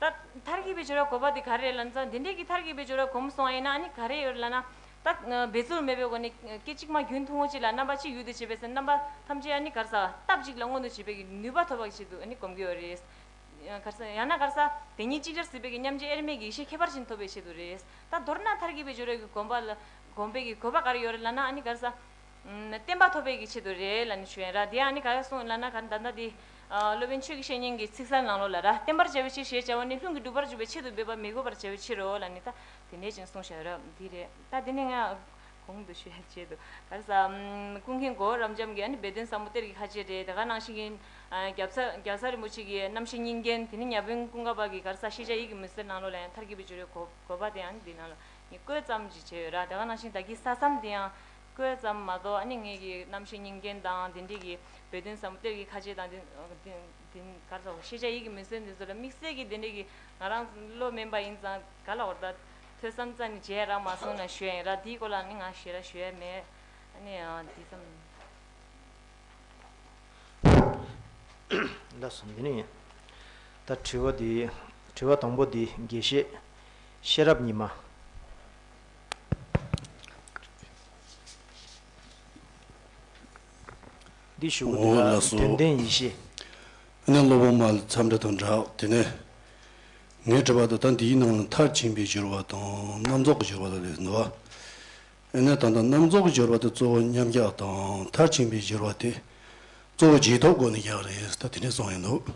ད་མཐར་གྱིས་པའི་སྦྱོར་བ་གོ་བ་དེ་ག་རེ་རེད་ལ་ད་འདི་འདྲས་ཀྱི་མཐར་གྱིས་པའི་སྦྱོར་བ་གོ་མི་སོང་བ་ཡིན་ན་ནི་ག་རེ་ཡོད་རེད་ལ་ན། ད་འབད་རྩོལ་མེད་པའི་སྒོ་ནས་སྐད་ཅིག་མ་རྒྱུན་ཐུང་ངུ་གཅིག་ལ་རྣམ་པ་གཅིག་ཡུལ་དུ་བྱེད་པས་སེམས་རྣམ་པ་ཐམས་ཅད་ནི་གར་ས་སྟབས་གཅིག་ལ་མངོན་དུ་བྱེད་པའི་ཀྱི་ནུས་པ་ཐོབ་པ་ཞིག་ཏུ་ནི་གོམས་ཀྱི་ཡོད་རེད། གར་ས་ཡང་ན་གར་ས་དེ་ཉིད་གཅིག་ཅར་སྲིད་པའི་ཀྱི་མཉམ་རྗེས་དབྱེར་མེད་ཀྱི་ཡེ་ཤེས་ཁྱད་པར་ཅན་ཐོབ་པའི་ཆེད་དུ་རེད། ད་མདོར་ན་མཐར་གྱིས་པའི་སྦྱོར་བའི་ཀྱི་གོམས་པ་ལ་གོམས་པའི་ཀྱི་གོ་བ་ག་རེ་ཡོད་རེད་ལ་ན་ནི་གར་ས་བསྟན་པ་ཐོབ་པའི་གི་ཆེད་དུ་རེ་ལ་ནི་བྱོན། ར་དེ་ཡང་ནི་ག་ཡ་གསུངས་ལ་ན་ག་ད་ད་དེ། སློབ་དཔོན་ཆོས་ཀྱི་བཤེས་གཉེན་གྱི་ཚིག་གསལ་ངང་ལོ་ལ་ར་བསྟན་པར་བྱ་བའི་ཕྱིར་ཞེས་བྱ་བ་ནི་ལྷུན་གྱིས་གྲུབ་པར་འཇུག་པའི་ཆེད་དུ་འབད་པ་མི་དགོས་པར་བྱ་བའི་ཕྱིར་རོ་ལ་ནི་ད་དེ་ནས་ཅིང་གསུངས་ཤེས་རབ་འདི་རེད་ད་དེ་ནི་ང། གོང་དུ་ཞུས་བྱས་དུ་ག་ས། ཀུན་མཁྱེན་གོ་བོ་རབ་འབྱམས་ཀྱི་ཨ་ནི་སྦས་དོན་ཟབ་མོ་གཏེར་གྱི་ཁ་ཆེ་རེད་ད་ག་ནང་བཞིན་གྱི། རྒྱབ་ས་རྒྱ་ས་རིན་པོ་ཆེ་གི་རྣམ་ཤེས་གཉིས་འགལ་དེ་ནི་གཉའ་བོན་ཀུན་དགའ་བག་གི་གར་ས་ཤེས་བྱ་ཡིད་ཀྱི་མུན་སེལ་ནང་ལོ་ལ་ཡང་མཐར་གྱིས་པའི་སྦྱོར་བའི་གོ་བ་དེ་ཡང་ནི་འདི་ནང་ལོ་ནི་བཀོད་ཙམ་གྱིས་བྱས་ཡོད་ར་ད་ག་ནང་བཞིན་བདག་གི་ས་མཚམས་དེ་ཡང། བཀོད་ཙམ་མ་གཏོགས་ཨ་ནི་ངེད་ཀྱི་རྣམ་ཤེས་རྙིང་རྒན་དང་དེ་འདྲས་ཀྱིས་བོད་དོན་ཟབ་མོ་གཏེར་གྱི་ཁ་ཆད་དང། ཤེས་བྱ་ཡིད་ཀྱི་མི་སྲོལ་འདི་ཚོ་ལ་དམིགས་བསལ་གྱིས་དེ་འདྲས་ཀྱིས་ང་རང་བློ་དམན་པ་ཡིན་ཙང་ག་ལ་བོར་ད། ཐོས་བསམ་རྩ་ནས་བྱས་ཡ་རང་མ་སོང་ན་ཞུ་ཡ་ཡིན་ར་དེའི་སྐོར་ལ་ཨ་ནི་ང་ཞེ་ར་ཞུ་ཡ་མེད། ཨ་ནི་འདི་ཙམ། ཟླ་གསུམ་འདི་ནི་ད་དྲི་བ་དང་པོ་འདི་དགེ་བཤེས་ཤེས་རབ་ཉི་མ། འདི་ཞུ་གི་འདུག་ལགས་དོན་ལྡན་ཡེ་ཤེས། ཨ་ནེ་སློབ་བུ་མ་ཚམ་འདྲ་དང་འདྲ་དེ་ནས། ངས་དྲིས་པ་ད་ལྟ་འདིའི་ནང་ལ་མཐར་ཕྱིན་པའི་སྦྱོར་བ་དང་རྣམ་རྫོགས་ཀྱི་སྦྱོར་བ་ལ་རེད་འདུག་ཨ་ནེ་ད་ལྟ་རྣམ་རྫོགས་ཀྱི་སྦྱོར་བ་དེ་གཙོ་བོ་མཉམ་རྒྱག་དང་མཐར་ཕྱིན་པའི་སྦྱོར་བ་དེ་གཙོ་བོ་རྗེས་ཐོབ་སྒོ་ནས་རྒྱག་རེད་ད་དེ་འདྲས་གསུངས་ཡོད་འདུག།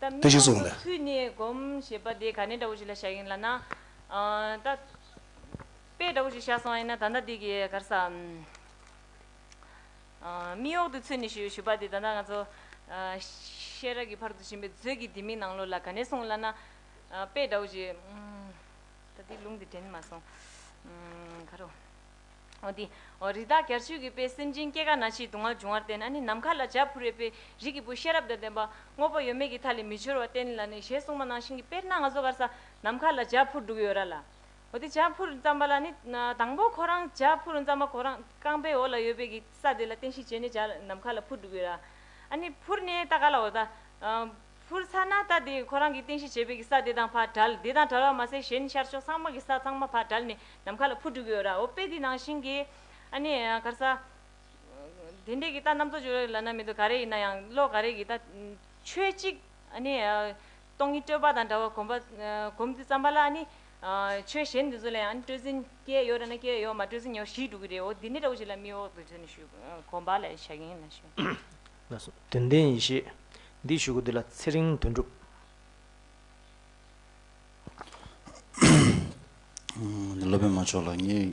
ད་མི་ལོ་ངོ་ཚུན་ནས་སྒོམ་ཞེས་པ་དེ་ག་ནས་འདྲ་བོ་ཞིག་ལ་བཞག་ཡིན་ལ་ན། ད་དཔེ་འདྲ་བོ་ཞིག་བཞག་སོང་ཡིན་ན་ད་ལྟ་འདི་གི་གར་ས། མིག་འོག་ཏུ་ཚུད་ནས་ཞུས་པ་དེ་ད་ལྟ་ང་ཚོ། ཤེས་རབ་ཀྱི་བར་དུ་ཕྱིན་པའི་མཛོད་ཀྱི་ལྡེ་མིག་ནང་ལོགས་ལ་ག་ནས་སོང་ལ་ན། དཔེ་འདྲ་བོ་ཞིག། ད་འདིའི་ལུང་དེ་དྲན་མ་སོང། ག་རུ། རི་དྭགས་གར་ཆུས་ཀྱི་དཔེས་སེམས་ཅན་སྐྱེ་རྒ་ན་འཆིའི་སྡུག་བསྔལ་འབྱུང་བར་བསྟན་ནས་ནམ་མཁའ་ལ་འཇའ་ཕུར་རེ་དཔེས་རིགས་ཀྱི་བུ་ཤེས་རབ་དང་ལྡན་པ་དངོས་པོ་ཡོད་མེད་ཀྱི་མཐའ་ལས་མི་འཆོལ་བར་བསྟན་ལ་ནི་ཞེས་གསུངས་པ་ནང་བཞིན་གྱི་དཔེར་སྣ་ལྔ་བཟོ་གར་ས་ནམ་མཁའ་ལ་འཇའ་ཕུར་འབྲུག་ཡོད་ར་ལ། འཇའ་ཕུར་བརྩམས་པ་ལ་ནི་དང་པོ་ཁོ་རང་འཇའ་ཕུར་བརྩམས་པ་ཁོ་རང་རྐང་པའི་འོག་ལ་ཡོད་པས་ཀྱི་ས་དེ་ལ་བསྟན་ཞིང་བྱས་ནས་འཇའ་ནམ་མཁའ་ལ་ཕུར་འབྲུག་ཡོད་ར། ཕུར་ནི་ལྟ་ག་ལ་འོ་ད། ཕུར་ཚ་ན་ད་དེ་ཁོ་རང་གི་རྟེན་གཞི་བྱེད་པའི་གི་ས་དེ་དང་བར་བྲལ་དེ་དང་བྲལ་བ་མ་ཟད་གཞན་ཤར་ཕྱོགས་ཚང་མ་གི་ས་ཚང་མ་བར་བྲལ་ནས་ནམ་མཁའ་ལ་ཕུར་སྤྲུལ་གི་ཡོད་ར་འོ་དཔེ་དེ་ནང་བཞིན་གི། ཨ་ནི་གར་ས། དེ་འདྲའི་གི་ད་རྣམ་རྟོག་འཇུག་ལ་ན་མི་འདུག་ག་རེ་ཡིན་ན་ཡང་བློ་ག་རེ་གི་ད། ཆོས་གཅིག་ཨ་ནི། སྟོང་ཉིད་སྤྲོས་པ་དང་འདྲ་བ་གོམས་པ་གོམས་ཏེ་བརྩམས་པ་ལ་ཨ་ནི། ཆོས་གཞན་འདི་ཚོ་ལ་ཡང་ཨ་ནི་སྤྲོས་འཛིན་སྐྱེ་ཡོད་ར་ན་སྐྱེ་ཡོད་མ་སྤྲོས་འཛིན་ཡོད་ཞིག་འགྲོ་གི་རེད་འོ་དེ་འདྲའི་འདྲ་བོ་ཞིག་ལ་མིའི་འོག་ཏུ་འདི་ནི་ཞུ་གོམས་པ་ལ་བྱ་གིན་ཡིན་ན་ཞུ། ལ་སོགས་དོན་ལྡན་ཡེ་ཤེས། འདི་བཞུགས་སྒོ་འདི་ལ་ཚེ་རིང་དོན་འགྲུབ། སློབ་དཔོན་མ་མཆོག་ལ་ངས་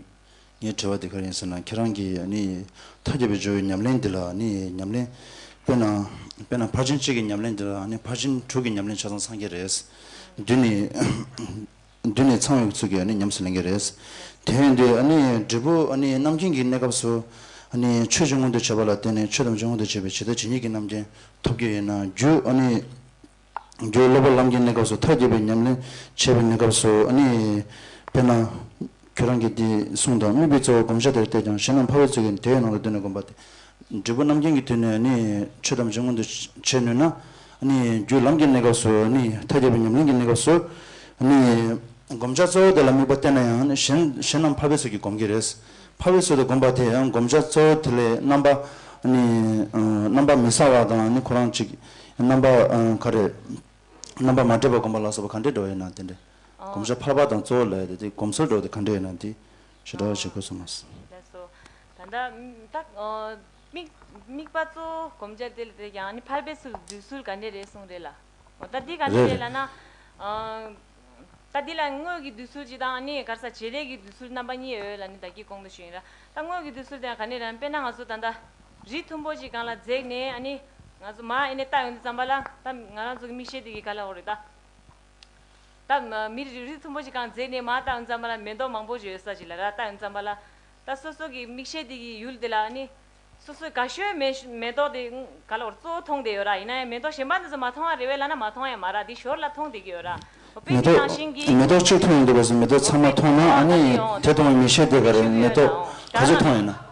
ངའི་དྲི་བ་འདི་ག་རེ་ཡིན་ཟེར་ན་ཁྱེད་རང་གིས་མཐའ་རྒྱས་པའི་ཇོ་བོའི་ཉམས་ལེན་འདི་ལ་ཉམས་ལེན་དཔེར་ན་དཔེར་ན་ཕར་ཕྱིན་གཅིག་གི་ཉམས་ལེན་འདི་ལ་ཕར་ཕྱིན་དྲུག་གི་ཉམས་ལེན་ཆ་ཚང་ཚང་གི་རེད། འདི་ནི། མདུན་ནས་ཚངས་ཡོད་ཚུལ་གྱིས་ཉམས་སུ་ལེན་གྱི་རེད། དེ་བས་འདི་འབྲས་བུ་རྣམ་མཁྱེན་གྱི་གནས་སྐབས་སུ། ཆོས་ཅུང་མངོན་དུ་བྱས་པ་ལ་བརྟེན་ནས་ཆོས་ཐམས་ཅད་མངོན་དུ་བྱེད་པའི་ཇི་ལྟ་ཇི་སྙེད་ཀྱི་རྣམ་མཁྱེན་ཐོབ་ཀྱི་ཡོད་ན། རྒྱུད་སློབ་པ་ལམ་གྱི་གནས་སྐབས་སུ་མཐར་གྱིས་པའི་ཉམས་ལེན་བྱེད་པའི་གནས་སྐབས་སུ། དཔེར་ན། ཁྱོད་རང་གིས་འདི་གསུངས་དང་དམིགས་པའི་རྩ་བའི་བསྒོམ་བྱ་དེར་བལྟས་ཀྱང་གཞན་རྣམས་འཕར་བའི་ཚུལ་གྱིས་དེའི་ནང་དུ་བསྡུས་ནས་བསྒོམ་པ་སྟེ། འབྲས་བུ་རྣམ་མཁྱེན་གྱི་དུས་ནས་ནི་ཆོས་ཐམས་ཅད་མངོན་དུ་བྱེད་ནུས་ན། རྒྱུའི་ལམ་གྱི་གནས་སྐབས་སུ་ནི་མཐའ་རྒྱས་པའི་ཉམས་ལེན་གྱི་གནས་སྐབས་སུ་ནི། བསྒོམ་བྱ་གཙོ་བོ་དེ་ལ་དམིགས་པ་བསྟན་ན་ཡང་གཞན་གཞན་རྣམས་འཕར་བའི་ཚུལ་གྱིས་བསྒོམ་གྱི་རེད། འཕར་བའི་ཚུལ་དུ་བསྒོམ་པ་དེས་བསྒོམ་བྱ་གཙོ་བོ་དེ་ལས་རྣམ་པ། རྣམ་པ་མི་ཟ་བ་དང་ནི་ཁོ་རང་གཅིག། རྣམ་པ་ག་རེ། རྣམ་པ་མ་འདྲེས་པར་བསྒོམ་པ་ལ་སོགས་པ་ག་འདྲས་འགྲོ་བ་ཡིན་ན་དེ་འདྲས། བསྒོམ་བྱ་འཕགས་པ་དང་གཙོ་བོ་ལས་དེ་དེ་བསྒོམ་ཚུལ་སྒྲོགས་ཏེ་གང་འདྲ་ཡིན་ནམ་དེ་ཞེས་སྒྲོགས་ཤིག་གོ་སོང་ངོ། ལེགས་སོ། ད་ལྟ་བདག་དམིགས་པ་གཙོ་བོ་བསྒོམ་བྱ་དེ་ལས་དེ་ཡང་ནི་འཕགས་པའི་ཚུལ་བསྡུས་ཚུལ་ག་འདྲས་རེད་གསུངས་རེད་ལ། ད་ལྟ་འདི་ག་འདྲ་རེད་ལ་ན། ད་ལྟ་འདི་ལ་དངོས་ཀྱི་བསྡུས་ཚུལ་གཅིག་དང་ནི་ག་ས་བྱེད་ལས་ཀྱི་བསྡུས་ཚུལ་རྣམ་པ་གཉིས་ཡོད་ལ་ནི་བདག་གིས་དགོངས་དོན་ཞུ་ཡིན་ལ། ད་དངོས་ཀྱི་བསྡུས་ཚུལ་དེ་ཡང་ག་འདྲས་རེད་ན་དཔེར་ན་ང་ཚོ་ད་ལྟ། རི་མཐོན་པོ་ཅིག་གང་ལ་འཛེགས་ནས་ནི། ང་ཚོ་མར་ཨེ་ནས་བཏགས་ཡོང་དུས་བརྩམས་པ་ལ་ད་ང་རང་ཚོ་གི་མིག་ཤེལ་དེ་གི་ག་ལ་འོག་རེད་ད། ད། མི་རིགས་རིགས་མཐོན་པོ་ཞིག་གང་མཛེས་ནས་མ་ཏཱའི་མཛངས་མ་ལ་མེ་ཏོག་མང་པོ་བཞོས་ས་ཞིག་ལ་ར་ཏཱའི་མཛངས་མ་ལ། ད་སོ་སོ་གི་མིག་ཤེལ་དེ་གི་ཡུལ་དེ་ལ་ནི། སོ་སོའི་དགའ་ཤོས་མེ་མེ་ཏོག་དེ་ག་ལོར་གཙོ་བོ་མཐོང་བསྡད་ཡོད་ར་ཡིན་ན་ཡང་མེ་ཏོག་གཞན་པ་འདི་ཚོ་མ་མཐོང་ཡ་རེ་བས་བླ་ན་མ་མཐོང་ཡ་མ་ར་འདི་ཞོར་ལ་མཐོང་བསྡད་ཀྱི་ཡོད་ར། དཔེ་མེ་འདི་ནང་བཞིན་གྱི། ཏོག་མེ་ཏོག་གཅིག་མཐོང་ཡོང་འདུག་པ་བཟོས་མེ་ཏོག་ཚང་མ་མཐོང་ན་ཨ་ནི་དེ་མཐོང་བའི་མི་ཤེས་དེ་ག་རེ་མེ་ཏོག་ག་ཚོད་མཐོང་ཡོད་ན།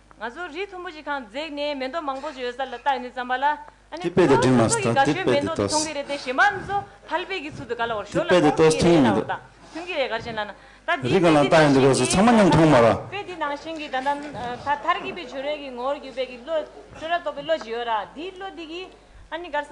ང་ཚོ་རི་མཐོན་པོ་ཞིག་ཁང་འཛེགས་ནས་མེ་མདོ་མང་པོ་ཞིག་ཡོད་ས་ལ་བཏགས་ནས་བརྩམས་པ་ལ། ཨ་ནི་ཁོ་རང་ཚོ་སྲོག་གི་དགའ་སྤྲོའི་མེ་མདོ་དེ་མཐོང་གི་རེད་དེ་གཞན་པ་ཚོ་ཕལ་པའི་གི་ཚུལ་དུ་ག་ལ་བར་ཞོར་ལ་འོང་གི་རེད་ལ་འོ་ད་ཐོན་གི་རེད་ག་རེ་བྱེད་ན་ན། ད་དེའི་དཔེ་འདི་ནང་བཞིན་གྱི་ད་ལྟ་དཔེ་འདི་ནང་བཞིན་གྱི་ད་ལྟ་ད་ལྟར་གྱི་དཔེ་བྱོས་རེས་ཀྱི་ངོ་བོར་གྱུར་པའི་གི་བློ་བཅོས་ར་རྟོག་པའི་བློ་ཞིག་ཡོད་ར་དེའི་བློ་འདི་གིས་ཨ་ནི་གར་ས་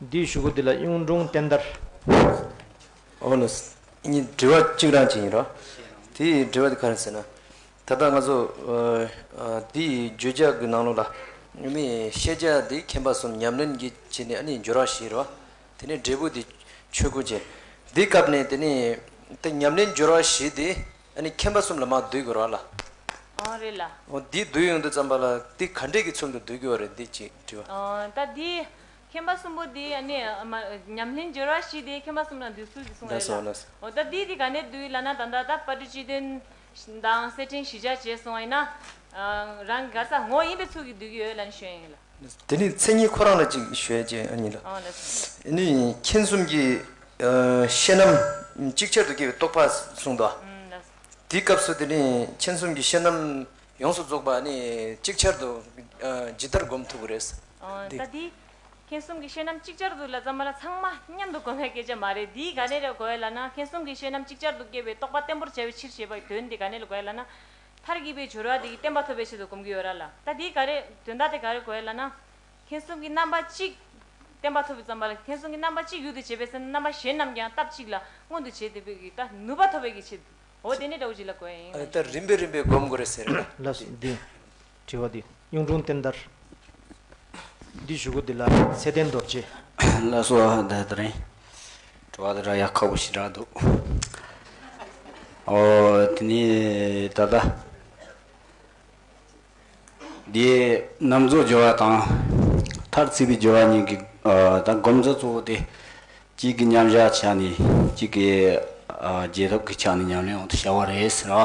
འདིའི་བཞུགས་སྒོ་འདི་ལ་གཡུང་དྲུང་བསྟན་དར། འོ་ན། གཉིས་དྲི་བ་གཅིག་རང་བྱས་ཡིན་རོ། དེ་ཡི་དྲི་བ་དེ་ག་རེད་ཟེར་ན། ད་ལྟ་ང་ཚོ། འདི་ཡི་བརྗོད་བྱ་གི་ནང་ལུགས་ལ། ནི་ཤེས་བྱ་དེ་མཁྱེན་པ་གསུམ་ཉམས་ལེན་གྱི་བྱེད་ནི་ཨ་ནི་འགྱུར་རོ་ཞེས་རོ། དེ་ནི་འབྲས་བུ་དེ་ཆོས་སྐུ་ཅན། འདི་སྐབས་ནས་དེ་ནི། དེ་ཉམས་ལེན་འགྱུར་རོ་ཞེས་དེ། ཨ་ནི་ཁྱིམ་པ་གསུམ་ལ་མ་བསྡུས་དགོས་ར་ལ། ཨང་རེད་ལ། འོ་འདིས་བསྡུས་ཡོང་དུ་བརྩམས་པ་ལ་འདི་ག་འདྲེས་ཀྱི་ཚུལ་དུ་བསྡུས་དགོས་བ་རེད་འདི་གཅིག་དྲི་བ། ཨང་ད་དེ་ཁྱིམ་པ་གསུམ་པོ་དེ་ཨ་ནི་མ་ཉམས་ལྷན་སྦྱོར་བ་ཞིག་དེ་ཁྱིམ་པ་གསུམ་ལ་འདུས་ཚུལ་དེ་གསུངས་རེད་ལ། འོ་ད་དེས་དེ་ག་ནས་བསྡུས་ལ་ན་ད་ལྟ་ད་པ་ཏྲི་སྤྱི་དོན་དང་སེར་ཕྲེང་ཞི་འཇགས་བྱས་སོང་ཨེ་ན། ཨང་རང་གི་ག་ས་ངོ་ཡིན་པའི་ཚུལ་གྱིས་བསྡུས་ཀྱི་ཡོད་ལ་ནི་ཞོན་ཡིན་ལ། དེ་ནས་མཚན་ཉིད་ཁོ་རང་ལ་ཅིག་ཞུ་ཡ་ཅན་གཉིས་ལ། ནི་མཁྱེན་གསུམ་གྱི་ཤེས་རྣམ་གཅིག་ཆར་དུ་སྐྱེ་བའི་རྟོགས་པ་གསུངས་ཏོ། དེའི་སྐབས་སུ་དེ་ནི་མཁྱེན་གསུམ་གྱི་ཤེས་རྣམ་ཡོངས་སུ་རྫོགས་པ་ནི་ཅིག་ཆར་དུ་ཇི་ལྟར་བསྒོམ་ཐུབ་པ་རེད། ད་དེ་མཁྱེན་གསུམ་གྱི་ཤེས་རྣམ་ཅིག་ཆར་དུ་ལ་ཙམ་མ་ལ་ཚང་མ་མཉམ་དུ་བསྒོམ་ཡ་སྐད་ཆ་མ་རེད་དེའི་ག་ནས་ལ་གོ་ཡ་ལ་ན་མཁྱེན་གསུམ་གྱི་ཤེས་རྣམ་ཅིག་ཆར་དུ་སྐྱེ་བའི་རྟོགས་པ་བརྟན་པོར་བྱ་བའི་ཕྱིར་ཞེས་པའི་དོན་དེ་ག་ནས་ལ་གོ་ཡ་ལ་ན། མཐར་གྱིས་པའི་སྦྱོར་བ་དེ་གྱིས་བསྟན་པ་ཐོབ་པའི་ཆེད་དུ་བསྒོམ་གྱི་ཡོད་ར་ལ། ད་དེའི་ག་རེ་དོན་དག་དེ་ག་རེ་གོ་ཡ་ལ་ན། མཁྱེན་གསུམ་གྱི་རྣམ་པ་གཅིག། བསྟན་པ་ཐོབ་པའི་བརྩམས་པ་ལ་མཁྱེན་གསུམ་གྱི་རྣམ་པ་གཅིག་ཡུལ་དུ་བྱེད་པའི་ཚེ་ན་རྣམ་པ་གཞན་རྣམས་ཀྱང་སྟབས་གཅིག་ལ་མངོན་དུ་བྱེད་དེ་བས་ཀྱི་ད་ནུས་པ་ཐོབ་པའི་ཀྱི་ཆེད་དུའོ། དེ་ནས་དགྲ་བོ་གཅིག་ལ་གོ་ཡ་ཡིན། ཨ་རེ་ད་རིམ་པས་རིམ་པས་བསྒོམ་དགོས་རེད་ཟེར་ར་ལ། ལ་སོགས་འདི། དྲི་བ། འདི་གཡུང་དྲུང་བསྟན་དར། འདི་བཞུགས་སྒོ་འདི་ལ་ཚེ་བརྟན་རྡོ་རྗེ། བླ་སྲོག་ཧ་ད་ད་རེད། དྲི་བ། འདི་འདྲ་ཡག་ཁག་པོ་ཞིག་གྲགས་འདུག། ཨོ། དེ་ནི་ད་ལྟ། འདི་གནམ་མཚོ་རྒྱལ་བ་དང། མཐར་རྩིས་པའི་རྒྱལ་བ་གཉིས་ཀྱི་ད་སྒོམ་རྩ་གཙོ་བོ་སྟེ། གཅིག་གི་མཉམ་བཞག་ཆ་ནས་གཅིག་གི་རྒྱས་ཐོབ་ཀྱི་ཆ་ནས་ཉམས་ལེན་འོག་ཏུ་བྱ་བ་རེད་ཟེར་བ།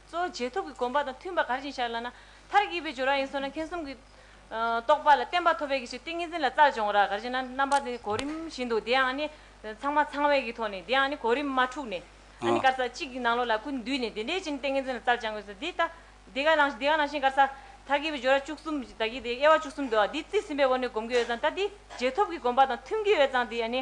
གཙོ་བོ་རྗེས་ཐོབ་ཀྱི་དགོངས་པ་དང་མཐུན་པ་ག་རེ་བཞིན་བཞག་སླ་ན། མཐར་གྱིས་པའི་སྦྱོར་བ་ཡིན་སོགས་ན་མཁྱེན་གསུམ་གྱི། རྟོགས་པ་ལ་བརྟན་པ་ཐོབ་པའི་གྱི་ཕྱིར་ཏིང་ངེ་འཛིན་ལ་རྩལ་སྦྱོང་ར་ག་རེ་བཞིན་ན་རྣམ་པ་དེ་གོ་རིམ་བཞིན་དུ་དེའང་ནི། ཚང་མ་ཚང་བའི་གྱི་ཐོག་ནས་དེའང་ནི་གོ་རིམ་མ་འཁྲུགས་ནས། ཨ་ནི་དཀར་ས་གཅིག་གི་ནང་ལོགས་ལ་ཀུན་འདུས་ནས་དེ་འདྲའི་ཕྱིར་ནི་ཏིང་ངེ་འཛིན་ལ་རྩལ་སྦྱང་དགོས་སོ། འདི་ལྟ། དེ་ག་ནང་དེའང་ནང་བཞིན་དཀར་ས། མཐར་གྱིས་པའི་སྦྱོར་བ་བཅུ་གསུམ་བདག་གི་དེ་དབྱེ་བ་བཅུ་གསུམ་དུའང་འདི་རྩིས་ཟིན་པའི་དབང་དུ་བསྒོམ་གྱི་འོད་གཙང་ལྟ་འདི་རྗེས་ཐོབ་ཀྱི་དགོངས་པ་དང་མཐུན་གྱི་འོད་གཙང་དེ་ནི།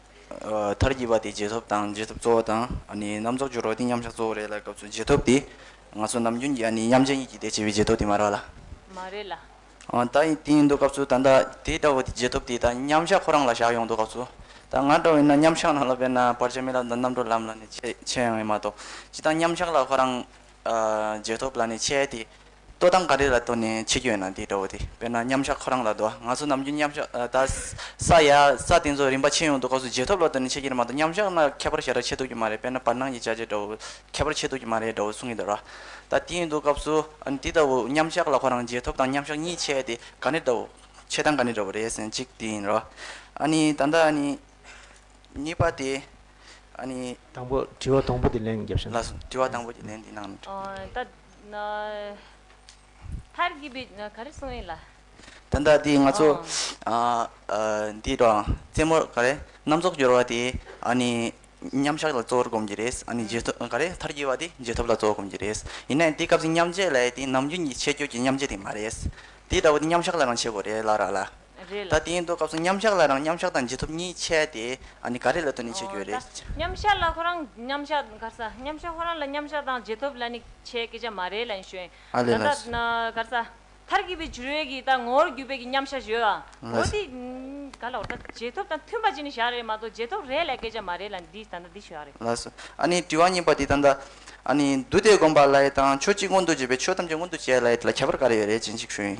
མཐར་གྱིས་པ་དེ་རྗེས་ཐོབ་དང་རྗེས་ཐོབ་གཙོ་བོ་དང། རྣམ་རྫོགས་སྦྱོར་བ་དེ་མཉམ་བཞག་གཙོ་བོ་རེད་ལ་སྐབས་སུ་རྗེས་ཐོབ་དེ། ང་ཚོ་ནམ་རྒྱུན་གྱི་མཉམ་བཞག་ཉིད་ཀྱིས་དེ་བྱེད་པའི་རྗེས་ཐོབ་དེ་མ་རེད་ལ། མ་རེད་ལ། ད་ཡིན་དེ་ཡིན་འདུག་སྐབས་སུ་ད་ལྟ་དེ་ལྟ་བུ་དེ་རྗེས་ཐོབ་དེ་ད་མཉམ་བཞག་ཁོ་རང་ལ་བཞག་ཡོང་འདུག་སྐབས་སུ། ད་ང་འདྲ་བས་ན་མཉམ་བཞག་ནང་ལ་བས་ན་བར་ཆད་མེད་ལ་ད་རྣམ་གྲོལ་ལམ་ལ་ནི་ཆད་ཡོང་ཡོད་མ་གཏོགས་ཅི་ད་མཉམ་བཞག་ལ་ཁོ་རང། རྗེས་ཐོབ་ལ་ནི་ཆད་དེ། ལྟོ་དང་འགའ་རེ་ལ་ལྟོ་ནས་ཕྱི་སྐྱོད་ན་དེ་འདྲ་བོ་དེ་དཔེར་ན་མཉམ་བཞག་ཁོ་རང་ལ་ལྟོ་ང་ཚོ་ནམ་རྒྱུན་མཉམ་བཞག་ད་ས་ཡ་ས་དེ་ཚོ་རིམ་པ་ཕྱེ་ཡོང་དུས་སྐབས་སུ་རྗེས་ཐོབ་ལ་ལྟོ་ནས་ཕྱི་ཁྱེར་མ་གཏོགས་མཉམ་བཞག་ན་ཁྱད་པར་ཞེ་དྲག་ཕྱེ་ཐུབ་ཀྱི་མ་རེད་དཔེར་ན་བར་སྣང་གི་བྱ་བྱེད་འདྲ་བོ་ཁྱད་པར་ཕྱེ་ཐུབ་ཀྱི་མ་རེད་འདྲ་བོ་གསུང་གི་འདུག་ད་དེ་ཡིན་དུས་སྐབས་སུ་འདི་ལྟ་བུ་མཉམ་བཞག་ལ་ཁོ་རང་རྗེས་ཐོབ་དང་མཉམ་བཞག་གཉིས་ཕྱེ་དེ་ག་ནི་འདྲ་བོ་ཕྱེ་སྟངས་ག་ནི་འདྲ་བོ་རེད་ཟེར་གཅིག་དེ་ཡིན་རོ། ཨ་ནི་ད་ལྟ་ཨ་ནི་གཉིས་པ་དེ་ཨ་ནི། དང་པོ་དྲི་བ་དང་པོ་དེ་ལན་བརྒྱབ་ཤེས་ན། ལགས་སོ་དྲི་བ་དང་པོ་དེ་ལན་དེ་གནང་ན་འགྲིག། ད། མཐར་གྱིས་པའི་ག་རེ་གསུང་ཡིན་ལ། ད་ལྟ་འདི་ང་ཚོ་འདི་དང་རྩེད་མོ་ག་རེ་རྣམ་རྫོགས་སྦྱོར་བ་དེ་ནི་མཉམ་བཞག་ལ་གཙོ་བོར་བསྒོམ་གྱི་རེད། ག་རེ་མཐར་གྱིས་པ་དེ་རྗེས་ཐོབ་ལ་གཙོ་བོར་བསྒོམ་གྱི་རེད། ཡིན་ནའི་འདི་སྐབས་འདི་མཉམ་རྗེས་ལས་དེ་ནམ་རྒྱུན་གྱི་ཆད་སྐྱོད་ཀྱི་མཉམ་རྗེས་དེ་མ་རེད། དེ་ལྟ་བུ་དེ་མཉམ་བཞག་ལའང་བྱེད་དགོས་རེད་ལ་ར་ལ། རེད་ལ། ད་དེའི་མདོ་སྐབས་སུ་མཉམ་གཞག་ལ་རང་མཉམ་གཞག་དང་རྗེས་ཐོབ་གཉིས་འཆད་དེ། འདི་ག་རེ་ལ་ལྟོས་ནས་འཆད་རྒྱུ་རེད། མཉམ་གཞག་ལ་ཁོ་རང་མཉམ་གཞག་ག་ས། མཉམ་གཞག་ཁོ་རང་ལ་མཉམ་གཞག་དང་རྗེས་ཐོབ་ལ་ནི་འཆད་སྐད་ཆ་མ་རེད་ལ་ཡིན་ཞོན། ད་ལྟ་ག་ས། མཐར་གྱིས་པའི་འཇུར་བས་ཀྱིས་ད་ངོ་བོར་གྱུར་པས་ཀྱི་མཉམ་གཞག་བཞོས་ལ། འོ་དེ་ག་ལ་འོ་ད་རྗེས་ཐོབ་དང་མཐུན་པ་ཅིག་ནི་གཞག་རེད་མ་གཏོགས་རྗེས་ཐོབ་རེད་ལ་སྐད་ཆ་མ་རེད་ལ་འདི་ད་ལྟ་འདི་གཞག་རེད། ལགས་སོ། ཨ་ནི་དྲི་བ་གཉིས་པ་འདི་ད་ལྟ། ཨ་ནི། འདུ་སྟེ་བསྒོམ་པ་ལ་ཡི་དང་ཆོས་གཅིག་མངོན་དུ་བྱེད་པའི་ཆོས་ཐམས་ཅད་མངོན་དུ་བྱེད་ལ་ཡི་ད་ལ་ཁྱད་པར་ག་རེ་ཡོད་རེད་ཅེས་འཇིགས་ཞུ་ཡིན།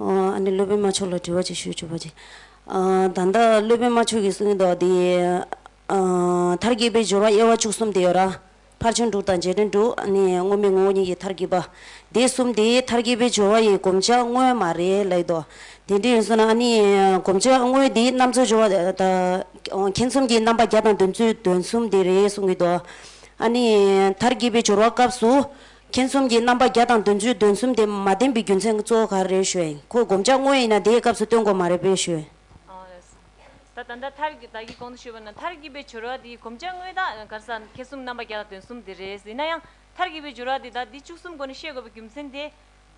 ཨ་ནི་སློབ་དཔོན་མ་མཆོག་ལ་དྲི་བ་ཅིག་ཞུས་བཅུག་པ་ཅིག། ད་ལྟ་སློབ་དཔོན་མ་མཆོག་གིས་གསུངས་དོགས་འདི། མཐར་གྱིས་པའི་སྦྱོར་བ་དབྱེ་བ་བཅུ་གསུམ་དེ་ཡོད་ར། ཕར་ཕྱིན་དྲུག་དང་རྗེས་དྲན་དྲུག། དངོས་མེད་ངོ་བོ་ཉིད་ཀྱི་མཐར་གྱིས་པ། དེ་གསུམ་དེའི་མཐར་གྱིས་པའི་སྦྱོར་བ་ཡིས་བསྒོམ་བྱ་དངོས་མ་རེད་ལེགས་དོ། དེ་འདྲ་ཡིན་ཟུར་ན་བསྒོམ་བྱ་དངོས་དེའི་རྣམ་རྩོལ་སྦྱོར་བ་དང། མཁྱེན་གསུམ་གྱི་རྣམ་པ་བརྒྱ་དང་བདུན་བཅུའི་དོན་གསུམ་དེ་རེད་གསུང་གི་འདུག། མཐར་གྱིས་པའི་སྦྱོར་བ་སྐབས་སུ། མཁྱེན་གསུམ་གྱི་རྣམ་པ་བརྒྱ་དང་བདུན་བཅུའི་དོན་གསུམ་དེ་མ་བསྟན་པའི་རྒྱུ་མཚན་གཙོ་བོ་ག་རེ་རེད་ཞུས། ཁོས་བསྒོམ་བྱ་དངོས་ཡིན་ན་དེའི་སྐབས་སུ་སྟོན་དགོས་མ་རེད་པས་ཞུས། ད་ད་ད་ཐར་གྱི་ད་གི་གོང་དུ་ཞུས་པ་ན་ཐར་གྱི་པའི་སྦྱོར་བ་དེའི་གོམས་བྱ་དངོས་དག་གར་ས་མཁས་གསུམ་རྣམ་པ་བརྒྱ་དང་དོན་གསུམ་དེ་རེད་ཡིན་ན་ཡང་ཐར་གྱི་པའི་སྦྱོར་བ་དེ་དག་འདི་བཅུ་གསུམ་སྒོ་ནས་ཤེས་དགོས་པའི་རྒྱུ་མཚན་དེ།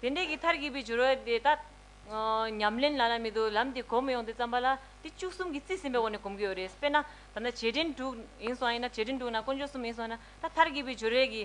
དེ་འདྲའི་གི་ཐར་གྱི་པའི་སྦྱོར་བ་དེ་དག་ཉམས་ལེན་ལ་ལ་མེད་དུ་ལམ་དེ་གོ་མི་ཡོང་དེ་བརྩམས་པ་ལ་འདི་བཅུ་གསུམ་གྱི་རྩིས་ཟིན་པའི་སྒོ་ནས་གོམས་ཀྱི་ཡོད་རེད་དཔེར་ན་ད་ན་བྱེད་འབྲེལ་དྲུག་ཡིན་སོང་ཡིན་ན་བྱེད་འབྲེལ་དྲུག་ན་དཀོན་མཆོག་གསུམ་ཡིན་སོང་ཡིན་ན་ད་ཐར་གྱི་པའི་སྦྱོར་བའི་གི་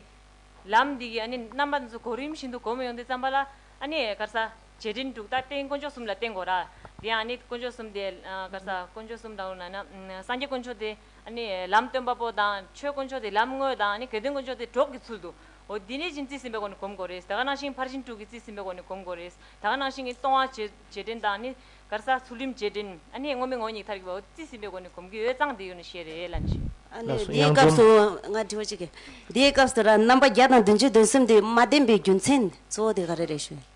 ལམ་འདི་གི་ཨ་ནི་རྣམ་པ་འདི་ཚོ་གོ་རིམ་བཞིན་དུ་གོ་མི་ཡོང་དེ་བརྩམས་པ་ལ་ཨ་ནི་གར་ས། བྱེད་རིམ་དྲུག་ལྟར་རྟེན་དཀོན་མཆོག་གསུམ་ལ་རྟེན་དགོས་ར། དེ་ཡང་ནི་དཀོན་མཆོག་གསུམ་དེ། ག་ས། དཀོན་མཆོག་གསུམ་དང་པོ་ན་ན། སངས་རྒྱས་དཀོན་མཆོག་དེ། ནི། ལམ་སྟོན་པ་པོ་དང། ཆོས་དཀོན་མཆོག་དེ་ལམ་དངོས་དང་ནི་གལ་ཏེ་དཀོན་མཆོག་དེ་གྲོགས་ཀྱི་ཚུལ་དུ། འོ་དེ་ནི་བཞིན་རྩིས་ཟིན་པའི་སྒོ་ནས་གོམས་དགོས་རེད། ད་ག་ནང་བཞིན་ཕར་ཕྱིན་དྲུག་གིས་རྩིས་ཟིན་པའི་སྒོ་ནས་གོམས་དགོས་རེད། ད་ག་ནང་བཞིན་གྱི་སྟོང་བ། བྱེད་འབྲིང་དང་ནི། ག་ས། ཚུལ་ཁྲིམས་བྱེད་འབྲིང། ནི་ངོ་མི་ངོ་གཉིས་ཐར་གྱི་བ་འོ་དེ་རྩིས་ཟིན་པའི་སྒོ་ནས་གོམས་ཀྱི་ཡོད་ཙང་དེ་ཡོད་ནི་ཤེས་རེད་ལ་ནི། ཨ་ལགས་ནི་སོ་དེའི་དབྱངས་སྐབས་འཛོམས། སུ། ང་དྲི་བ་གཅིག་གི། དེའི་སྐབས་སུ་ར་རྣམ་པ་བརྒྱ་དང་བདུན་ཅུ་དོན་གསུམ་དེ་མ་བདེན་པའི་རྒྱུ་མཚན་གཙོ་བོ་དེ་ག་རེ་རེད་ཞུ་ཡ།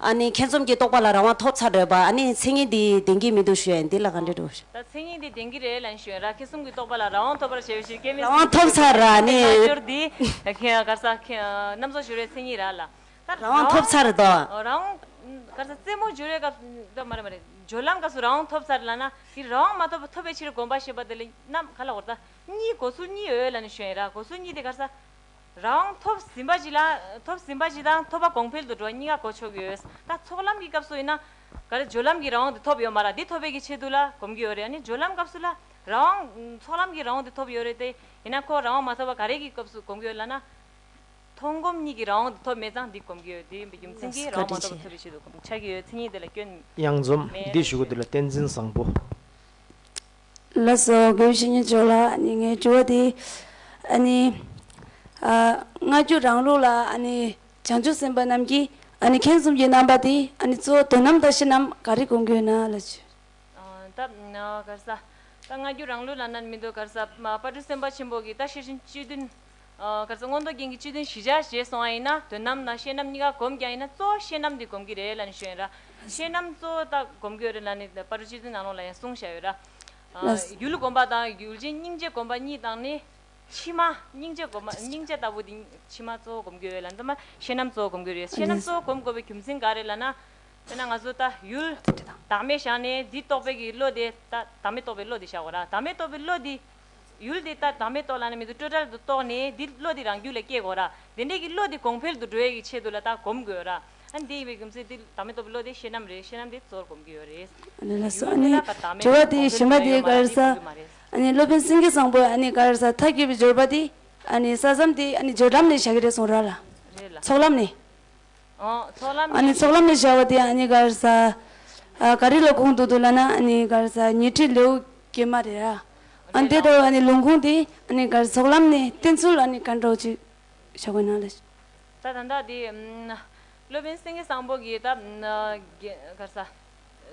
ཨ་ནི་ཁྱེད་རྩོམ་གྱི་རྟོག་པ་ལ་རང་དབང་ཐོབ་ཚར་རེད་པ་ཨ་ནི་མཚན་ཉིད་འདི་བདེན་གྱི་མི་འདུག་ཞོན་འདི་ལ་ག་འདྲི་འདུག་ཞོན། ད་མཚན་ཉིད་འདི་བདེན་གྱི་རེད་ལན་ཞོན་ར་ཁྱེད་རྩོམ་གྱི་རྟོག་པ་ལ་རང་དབང་ཐོབ་པར་བྱེད་པའི་ཕྱིར་སྐལ་མེད་རང་གསུམ་དབང་གྱི་ཐོབ་ཆོས་ཚར་ར་གོ་ཨ་ནི་ནི། རྣལ་འབྱོར་འདི། ཀར་ས། གནམ་སོགས་འཇུ་རའི་མཚན་ཉིད་ར་ལ། ད་རང་དབང་ཐོབ་ཚར་རེད་དོ། རང་དབང། ཀར་ས་རྩེ་མོ་འཇུ་རའི་སྐབས། ད་མ་རེད་མ་རེད། སྦྱོར་ལམ་སྐབས་སུ་རང་དབང་ཐོབ་ཚར་ལ་ན། འདིར་རང་དབང་མ་ཐོབ་ཐོབ་པའི་ཕྱིར་བསྒོམ་པ་ཞེས་པ་འདི་ལ་གནམ་ག་ལ་གོ་ད། གཉིས་གོ་ཚུལ་གཉིས་འོས་ལན་ཞོན་ར་གོ་ཚུལ་གཉིས་དེ་ཀར་ས། རང་དབང་ཐོབ་ཟིན་པ་ཞིག་ལ་ཐོབ་ཟིན་པ་ཞིག་དང་ཐོབ་པ་གོང་འཕེལ་དུ་འགྲོ་བ་གཉིས་ཀ་གོ་ཆོག་གི་ཡོད། ད་ཚོགས་ལམ་གྱི་སྐབས་སུ་ཡིན་ན། ག་རེ་སྦྱོར་ལམ་གྱི་རང་དབང་དེ་ཐོབ་ཡོད་མ་ར་འདི་ཐོབ་པའི་གི་ཆེད་དུ་ལ་གོམས་ཀྱི་ཡོད་རེད་ཨ་ནི་སྦྱོར་ལམ་སྐབས་སུ་ལ་རང་དབང། ཚོགས་ལམ་གྱི་རང་དབང་དེ་ཐོབ་ཡོད་རེད་དེ། ཡིན་ན་ཁོ་རང་དབང་མ་ཐོབ་པ་ག་རེ་གི་སྐབས་སུ་གོམས་ཀྱི་ཡོད་ལ་ན། མཐོང་གོམས་གཉིས་ཀྱི་རང་དབང་དེ་ཐོབ་མེད་ཙང་འདི་གོམས་ཀྱི་ཡོད་དེ་ཡིན་པའི་རྒྱུ་མཚན་གྱིས་རང་དབང་མ་ཐོབ་པ་ཐོབ་པའི་ཆེད་དུ་གོམས་ཆགས་ཀྱི་ཡོད་མཚན་ཉིད་དེ་ལ་སྐྱོན། དབྱངས་འཛོམས། མེད་རེད་འདི་ཞུ་གི་འདུག་ལ་བསྟན་འཛིན་བཟང་པོ། ལ་སོགས་དགེ་བཤེས་གཉིས་མཆོག་ལ་ནི་ངས་བཅོལ་བ་དེ། སྔ་འགྱུར་རང་ལུགས་ལ་བྱང་ཆུབ་སེམས་དཔའ་རྣམས་ཀྱིས་ཁེངས་གསུམ་གྱི་རྣམ་པ་དེ་གཙོ་བོ་དོན་ནམ་དག་གཞི་རྣམས་ག་རེ་གོ་འགྱུར་ན་ལ་བཅོལ། སྔ་འགྱུར་རང་ལུགས་ལ་ནར་མི་འདོད་གར་ས་པ་ཏྲུ་སེམས་དཔའ་ཆེན་པོ་གྱིས་རྟགས་ཤེས་བཞིན་བཅུད་བདུན་གལ་སྲིད་མངོན་རྟོགས་རྒྱན་གྱི་སྤྱི་དོན་གཞི་བཞག་བྱས་སོང་བ་ཡིན་ན་དོན་དམ་ན་ཤེས་རྣམ་གཉིས་ཀ་གོམས་ཀྱང་ཡིན་ན་གཙོ་བོ་ཤེས་རྣམ་དེ་གོམས་ཀྱི་རེད་ལ་ནི་ཞུ་ཡིན་ར། ཤེས་རྣམ་གཙོ་བོ་དག་གོམས་དགོས་རེད་ལ་ནི་ད་བར་སྤྱི་དོན་ནང་ལོགས་ལ་ཡང་གསུང་བཞག་ཡོད་ར། ཡུལ་གོམས་པ་དང་ཡུལ་ཅན་སྙིང་རྗེ་གོམས་པ་གཉིས་དང་ནི། ཕྱི་མ་སྙིང་རྗེ་གོམས་པ་སྙིང་རྗེ་ལྟ་བུ་དེ་ཕྱི་མ་གཙོ་བོ་གོམས་དགོས་རེད་ལ་ནི་ད་མ་ཤེས་རྣམ་གཙོ་བོ་གོམས་དགོས་རེད་ཤེས་རྣམ་གཙོ་བོ་གོམས་དགོས་པའི་རྒྱུ་མཚན་ག་རེད་ལ་ན། དཔེར་ན་ང་ཚོ་ད་ཡུལ་བདག་མེད་བཞག་ནས་འདི་རྟོགས་པའི་གི་བློ་དེ་ད་བདག་མེད་རྟོགས་པའི་བློ་དེ་བཞག་གོ་ར་བདག་མེད་རྟོགས་པའི་བློ་དེ་ཡུལ་འདི་ལྟར་དམ་པའི་ཏོག་ལ་ནི་མི་དུ་སྤྲོས་བྲལ་དུ་རྟོགས་ནས་འདི་བློ་འདི་རང་རྒྱུད་ལ་སྐྱེ་དགོས་ར། དེ་འདྲའི་གྱི་བློ་འདི་གོང་འཕེལ་དུ་འགྲོ་ཡས་ཀྱི་ཆེད་དུ་ལ་དག་གོམས་དགོས་ར། ཨ་ནི་དེ་ཡིན་པའི་རྒྱུ་མཚན་འདི་དམ་པའི་ཏོག་གི་བློ་དེ་ཤེས་རྣམ་རེད་ཤེས་རྣམ་དེ་གཙོར་གོམས་ཀྱི་ཡོད་རེད། ཨ་ནི་ལྷ་སོ་ཨ་ནི་དྲི་བ་དེའི་གཞི་མ་དེའི་གར་ས་ཨ་ནི་སློབ་དཔོན་སེང་གེ་བཟང་པོས་ཨ་ནི་གར་ས་མཐའ་དགེ་བའི་སྦྱོར་བ་དེ་ཨ་ནི་ས་བསམ་དེ་ཨ་ནི་སྦྱོར་ལམ་ནས་བྱ་གི་རེད་གསུངས་ར་ལ། རེད་ལ། ཚོགས་ལམ་ནས། ཨཱ་ནི་ཚོགས་ལམ་ལས་བྱ་བ་དེ་ཨཱ་ནི་གར་ས། ག་རི་ལ་ཁུངས་དུ་འདུག་ལ་ན་ཨཱ་ནི་གར་ས་ཉི་ཁྲི་ལེའུ་བརྒྱད་མ་རེད། ཨཱ་འདི་ལྟ་བུ་ཨཱ་ནི་ལུང་ཁུངས་དེ་ཨཱ་ནི་གར་ཚོགས་ལམ་ནས་བསྟན་ཚུལ་ཨཱ་ནི་གར་འགྲོ་བཅུ་ཞོག་གོ་ན་ལ། ད་དང་ད་དེ། སློབ་དཔོན་སེང་གེ་སངས་པོ་གིས་ད། གར་ས།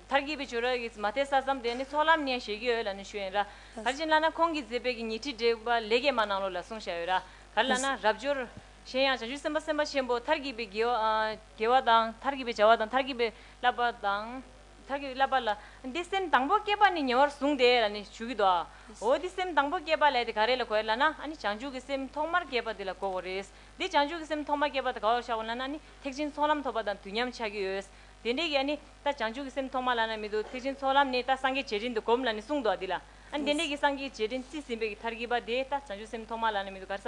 མཐར་གྱིས་པའི་བྱུ་ར་གིས་མ་དེ་ས་ཙམ་དེ་ཨཱ་ནི་ཚོགས་ལམ་ནས་བཞེད་ཀྱི་ཡོད་ལ་ནི་ཞུ་ཡོད་ར། གར་གྱིས་ལ་ན་ཁོང་གིས་མཛད་པའི་གི་ཉི་ཁྲི་དྲེགས་པ་ལེ་བརྒྱད་མ་ནང་ལོ་ལ་གསུངས་བཞག་ཡོད་ར། གར་ལ་ན་རབ་འབྱོར། གཞན་ཡང་བྱ་རྒྱུད་སེམས་དཔའ་སེམས་དཔའ་ཆེན་པོ་མཐར་གྱིས་པའི་དགེ་བ་དང། མཐར་གྱིས་པའི་བྱ་བ་དང་མཐར་གྱིས་པའི་བསླབ་པ་དང། མཐར་གྱིས་པའི་བསླབ་པ་ལ། འདི་སེམས་དང་པོ་བསྐྱེད་པ་ནི་ཉེ་བར་བཟུང་སྟེ་ལ་ནི་བྱུག་གི་དོའོ། འདི་སེམས་དང་པོ་བསྐྱེད་པ་ལས་དེ་ག་རེ་ལ་གོ་ཡ་ལ་ན་ནི་བྱང་ཆུབ་ཀྱི་སེམས་ཐོག་མར་བསྐྱེད་པ་དེ་ལ་གོ་བོ་རེ། འདི་བྱང་ཆུབ་ཀྱི་སེམས་ཐོག་མར་བསྐྱེད་པ་དེ་ག་བར་བྱ་བ་ལ་ན་ནི་ཐེག་ཆེན་ཚོགས་ལམ་ཐོབ་པ་དང་དུས་མཉམ་ཆགས་ཀྱི་ཡོད། དེ་འདྲའི་གྱི་ཨ་ནི་ད་བྱང་ཆུབ་ཀྱི་སེམས་ཐོག་མ་ལ་ན་མི་འདུག་ཐེག་ཆེན་ཚོགས་ལམ་ནི་ད་སངས་རྒྱས་རྗེས་དྲན་དུ་བསྒོམ་ལ་ནི་གསུངས་དོ་འདི་ལ། ཨ་ནི་དེ་འདྲའི་གྱི་སངས་རྒྱས་རྗེས་དྲན་རྩིས་ཟིན་པའི་གྱི་མཐར་གྱིས་པ་དེ་ད་བྱང་ཆུབ་སེམས་ཐོག་མ་ལ་ན་མི་འདུག་ག་རེ་ས་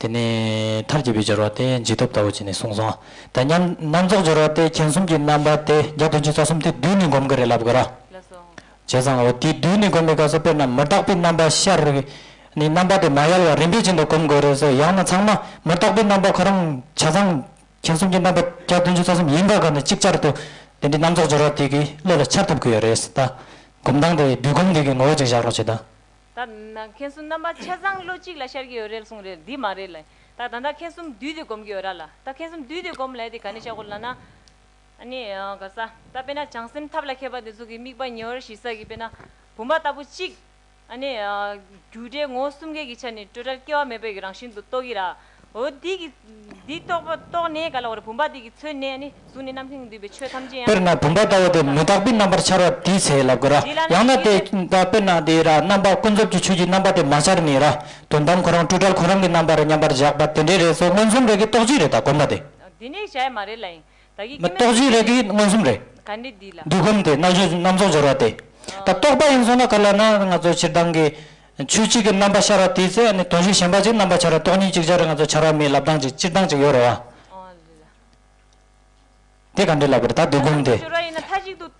དེ་ནི་མཐར་གྱིས་པའི་སྦྱོར་བ་སྟེ་འཇིག་སྟོབས་ལྟ་བུ་བྱས་ནས་གསུངས་སོ། དེ་མཉམ་སྣང་རྫོགས་སྦྱོར་བ་སྟེ་མཁྱེན་གསུམ་གྱི་རྣམ་པ་སྟེ་བརྒྱ་བདུན་ཅུ་རྩ་གསུམ་སྟེ་བསྡུས་ནས་བསྒོམ་གྱི་རེ་ལབ་དགོས་ར། བྱས་ཙང་ངོ། དེ་བསྡུས་ནས་བསྒོམ་པའི་སྐབས་སུ་དཔེར་ན་མི་རྟག་པའི་རྣམ་པ་ཤར་རེ་བས་ནི་རྣམ་པ་དེ་མ་ཡལ་བར་རིམ་པས་ཅན་དུ་བསྒོམ་དགོས་རེ་ཟེར་ཡང་ན་ཚང་མ་མི་རྟག་པའི་རྣམ་པ་ཁོ་རང་བྱས་ཙང་མཁྱེན་གསུམ་གྱི་རྣམ་པ་བརྒྱ་བདུན་ཅུ་རྩ་གསུམ་ཡིན་པ་ག་ནས་གཅིག་ཅར་དུ་དེ་འདྲའི་རྣམ་རྫོགས་སྦྱོར་བ་དེ་གི་བློ་ལ་འཆར་ཐུབ་དགོས་ཡོད་རེད་ད། བསྒོམ་སྟངས་དེ་བསྡུས་སྒོམ་འདི་གི་ངོ་བོ་ཅིག་བཞག་རོགས་བྱས་ད། ད། མཁན་གསུམ་རྣམ་པ་ཆ་ཚང་བློ་གཅིག་ལ་ཤར་གྱི་ཡོད་རེད་གསུངས་རེད་འདི་མ་རེད་ལ། ད་ད་ད་མཁན་གསུམ་བསྡུས་ཏེ་སྒོམ་གྱི་ཡོད་ར་ལ། ད་མཁན་གསུམ་བསྡུས་ཏེ་སྒོམ་ལེ་དེ་ག་ནས་ཤར་གོ་ལ་ན། ཨ་ནི། ག་ས། ད་དཔེ་ན་བྱང་སེམས་ཐབས་ལ་མཁས་པ་དེ་ཚོ་གི་དམིགས་པ་ཉེ་བར་ཞི་ས་གི་དཔེ་ན། བུམ་པ་ལྟ་བུ་གཅིག། ཨ་ནི། རྒྱུ་འབྲས་ངོ་བོ་གསུམ་ཀའི་གི་ཆ་ནས་སྤྲོས་བྲལ་སྐྱེ་བ་མེད་པའི་གི་རང་བཞིན་དུ་རྟོགས་གི་ར། འོ་འདི་གི། འདི་རྟོགས་པ་རྟོགས་ནས་ག་ལ་བ་རི་བུམ་པ་འདི་གི་མཚོན་ནས་ནི་གཟུགས་ནས་རྣམ་སྨིན་འདུས་པའི་ཆོས་ཐམས་ཅད་ཡང་དཔེར་ན་དེ་བུམ་པ་ལྟ་བུ་དེ་མི་རྟག་པའི་རྣམ་པར་འཆར་བ་དེའི་ཚེ་ལབ་དགོས་ར། འདི་ལ་ནི་ཡང་ན་དེ་དེའི་ཚེ། དཔེར་ན་དེའི་ར་རྣམ་པར་ཀུན་རྫོབ་ཀྱི་ཆོས་ཀྱི་རྣམ་པ་དེ་མ་འཆར་ནས་ར། དོན་དམ་ཁོ་རང་སྤྲོས་བྲལ་ཁོ་རང་གི་རྣམ་པར་མཉམ་པར་བཞག་པ་དེ་འདྲའི་རེས་སོ་མངོན་སུམ་རེས་ཀྱིས་རྟོགས་ཀྱི་རེད་ད་གོམས་པ་དེ། འདི་ནི་གཞལ་ཡས་མ་རེད་ལ་ཡིན། མི་རྟོག་རྗེས་རེག་གིས་མངོན་སུམ་རེག། འདུས་སྒོམ་དེ་རྣལ་འབྱོར་རྣམ་རྫོགས་སྦྱོར་བ་སྟེ། ད་རྟོགས་པ་ཡིན་སོང་ན་ག་ལ་ན་ང་ཚོ་ཕྱིར་འདང་གི། ཆོས་གཅིག་གི་རྣམ་པ་ཤར་བ་དེའི་ཚེ་ནི་དོན་ཞིག་ཞེན་པ་གཅིག་རྣམ་པར་འཆར་བ་རྟོག་གཉིས་གཅིག་ཅར་ང་ཚོ་འཆར་བ་མིའི་ལབ་གདངས་གཅིག་སྤྱིར་བཏང་གཅིག་ཡོད་རེད་བ། དེ་ག་འདྲའི་ལབ་པ་རེད་ད་འདུས་སྒོམ་དེ།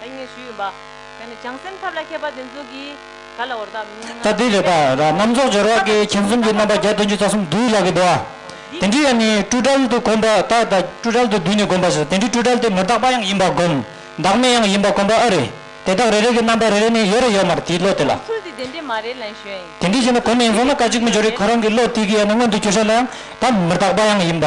ད་ངས་ཞུས་ཡིན་པ། ཡང་ནི་བྱང་སེམས་ཐབས་ལ་མཁས་པ་དེ་ཚོ་གིས་ག་ལ་འོར་དམ། ད་དེ་རེད་པ། རྣམ་རྫོགས་སྦྱོར་བ་ཀའི་མཁྱེན་གསུམ་གྱི་རྣམ་པ་བརྒྱ་བདུན་ཅུ་རྩ་གསུམ་བསྡུས་ལགས་ཀྱི་འདུག་ཨ། དེ་འདྲི་ཡང་ནི་སྤྲོས་བྲལ་དུ་གོམས་པ་དག་དང་སྤྲོས་བྲལ་དུ་བསྡུས་ནས་གོམས་པ་ཞེས་དེ་འདྲི་སྤྲོས་བྲལ་དེ་མི་རྟག་པ་ཡང་ཡིན་པར་བསྒོམ། བདག་མེད་ཡང་ཡིན་པར་གོམས་པ་ཨ་རེ། དེ་དག་རེ་རེ་གི་རྣམ་པ་རེ་རེ་ནི་ཡོད་རེ་ཡོད་མར་དེའི་བློ་དེ་ལ། ནོར་འཁྲུལ་དེ་དེ་འདྲི་མ་རེད་ལན་ཞོན། དེ་འདྲི་བྱས་ན་གོ་མི་ཡིན་སོང་ན་ཀ་གཅིག་མི་འཇོག་རེ་ཁོ་རང་གི་བློ་དེ་གི་ཡང་ནི་མངོན་དུ་གྱུར་ཤག་ལ་ཡང་ད་མི་རྟག་པ་ཡང་ཡིན་པ།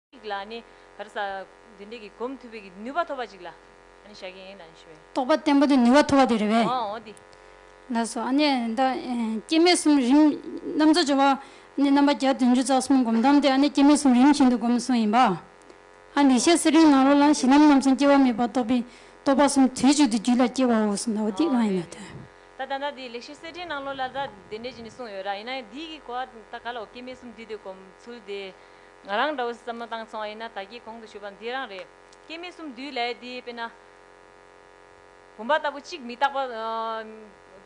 ཅིག་ལ་ནི། བར་ས། འདི་འདྲས་ཀྱི་གོམས་མཐུད་པའི་གི་ནུས་པ་ཐོབ་པ་ཅིག་ལ། ནི་བྱ་གི་ཡིན་ནའང་ཞུ་བས། རྟོགས་པ་བརྟན་པོ་དེ་ནུས་པ་ཐོབ་པ་དེ་རེད་བས། འོ་འོ་དེ། ལ་སོགས་ཨ་ནི་ད། སྐྱེ་མེད་གསུམ་རིམ། རྣམ་རྫོགས་སྦྱོར་བ། ཨ་ནི་རྣམ་པ་བརྒྱ་བདུན་ཅུ་རྩ་གསུམ་སྒོམ་གཏམ་དེ་ཨ་ནི་སྐྱེ་མེད་གསུམ་རིམ་བཞིན་དུ་སྒོམ་གསུངས་ཡིན་པ། ཨ་ནི་ཤེས་གསལ་རིག་ནང་རོ་ལ་གཞི་ལམ་རྣམ་གསུམ་སྐྱེ་བ་མེད་པར་རྟོགས་པས་རྟོགས་པ་གསུམ་དུས་གཅིག་ཏུ་རྒྱུད་ལ་སྐྱེ་བའོ་གསུངས་ད་འོ་དེ་གང་ཡིན་ན་དོན། ད་ད་ནའི་དེའི་ལེགས་ཤེས་གསལ་བྲིས་ནང་ལོ་ལ་ད་དེ་འདྲས་ཀྱི་ནི་གསུངས་ཡོད་ར་ཡིན་ནའང་དེའི་གི་གོ་བ་ད་ག་ལའོ་སྐྱེ་མེད་གསུམ་དུས་དེ་སྒོམ་ཚུལ་དེ། ང་རང་འདྲ་བོ་བསམ་བློ་བཏང་སོང་བ་ཡིན་ན་ད་སྐྱིད་གོང་དུ་ཞུ་བ་འདི་རང་རེད། སྐྱེ་མི་གསུམ་འདུས་ལས་འདི་དཔེར་ན། བུམ་པ་ལྟ་བུ་གཅིག་མི་རྟག་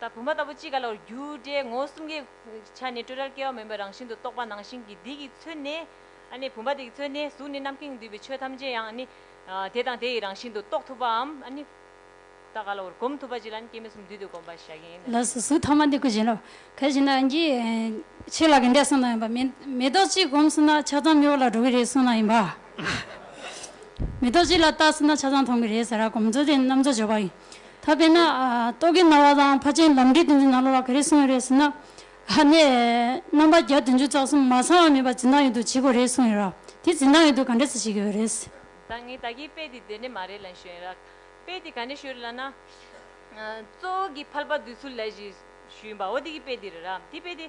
པ། བུམ་པ་ལྟ་བུ་གཅིག་ག་ལ་བར་རྒྱུ་འབྲས་ངོ་གསུམ་གའི་ཆ་ནས་སྤྲོས་བྲལ་སྐལ་བ་མེད་པའི་རང་བཞིན་དུ་རྟོགས་པ་ནང་བཞིན་གྱི་འདི་གིས་མཚོན་ནས་ཨ་ནི་བུམ་པ་འདི་གིས་མཚོན་ནས་གཟུགས་ནི་རྣམ་གཡེང་འདུས་པའི་ཆོས་ཐམས་ཅད་ཡང་ཨ་ནི་དེ་དང་དེ་ཡི་རང་བཞིན་དུ་རྟོགས་ཐུབ་པའམ་ཨ་ནི། ད་ག་ལ་བར་གོམས་ཐུབ་པ་ཅིག་ལ་ནི་སྐྱེ་མེད་གསུམ་འདུས་ཏེ་བསྒོམ་པར་བྱ་གིན་ཡིན་ནོ། ལ་སོགས་གཟུགས་ཐ་མ་འདི་ཀུན་བྱིན་རླབས་ག་བྱིན་ན་ཡིན་གྱིས། ཆོས་ལ་ག་འདྲས་གསུངས་ན་ཡིན་པ། མེ་ཏོག་གཅིག་བསྒོམས་སོང་ན་ཆ་ཚང་མི་བ་ལ་འགྲོ་གི་རེད་གསུངས་ན་ཡིན་པ། མེ་ཏོག་གཅིག་ལ་བལྟ་སོང་ན་ཆ་ཚང་མཐོང་གི་རེད་ཟེར་ར་གོམས་ཚུལ་དེ་ནི་རྣམ་རྫོགས་སྦྱོར་བ་ཡིན། ད་དཔེར་ན། རྟོག་གེ་རྣ་བ་དང་ཕ་ཆེན་ལམ་འབྲས་དོན་ཚན་ནང་ལོགས་ལ་ག་རེ་གསུངས་ཡོད་རེད་ཟེར་ན། ཨ་ནི། རྣམ་པ་བརྒྱ་བདུན་ཅུ་རྩ་གསུམ་མ་ཚང་བ་མིན་པར་འཛིན་སྟངས་ཡོད་དུ་བྱེད་དགོས་རེད་གསུངས་ཡོད་ར། དེ་འཛིན་སྟངས་ཡོད་དུ་ག་འདྲས་ཚོད་བྱེད་ཀྱི་ཡོད་རེད། ད་ངས་ད་གིའི་དཔེ་དེ་བདེན་འདྲེ་མ་རེད་ལ་ཞུས་ཡིན་ར། དཔེ་དེ་ག་ནས་ཤོད་རེད་ལབ་ན། གཙོ་བོ་གི་ཕལ་པ་དུས་ཚུལ་ལས་ཞེས་ཞུས་ཡིན་པ་འོ་དེ་གི་དཔེ་དེ་རེད་ར་དེ་དཔེ་དེ།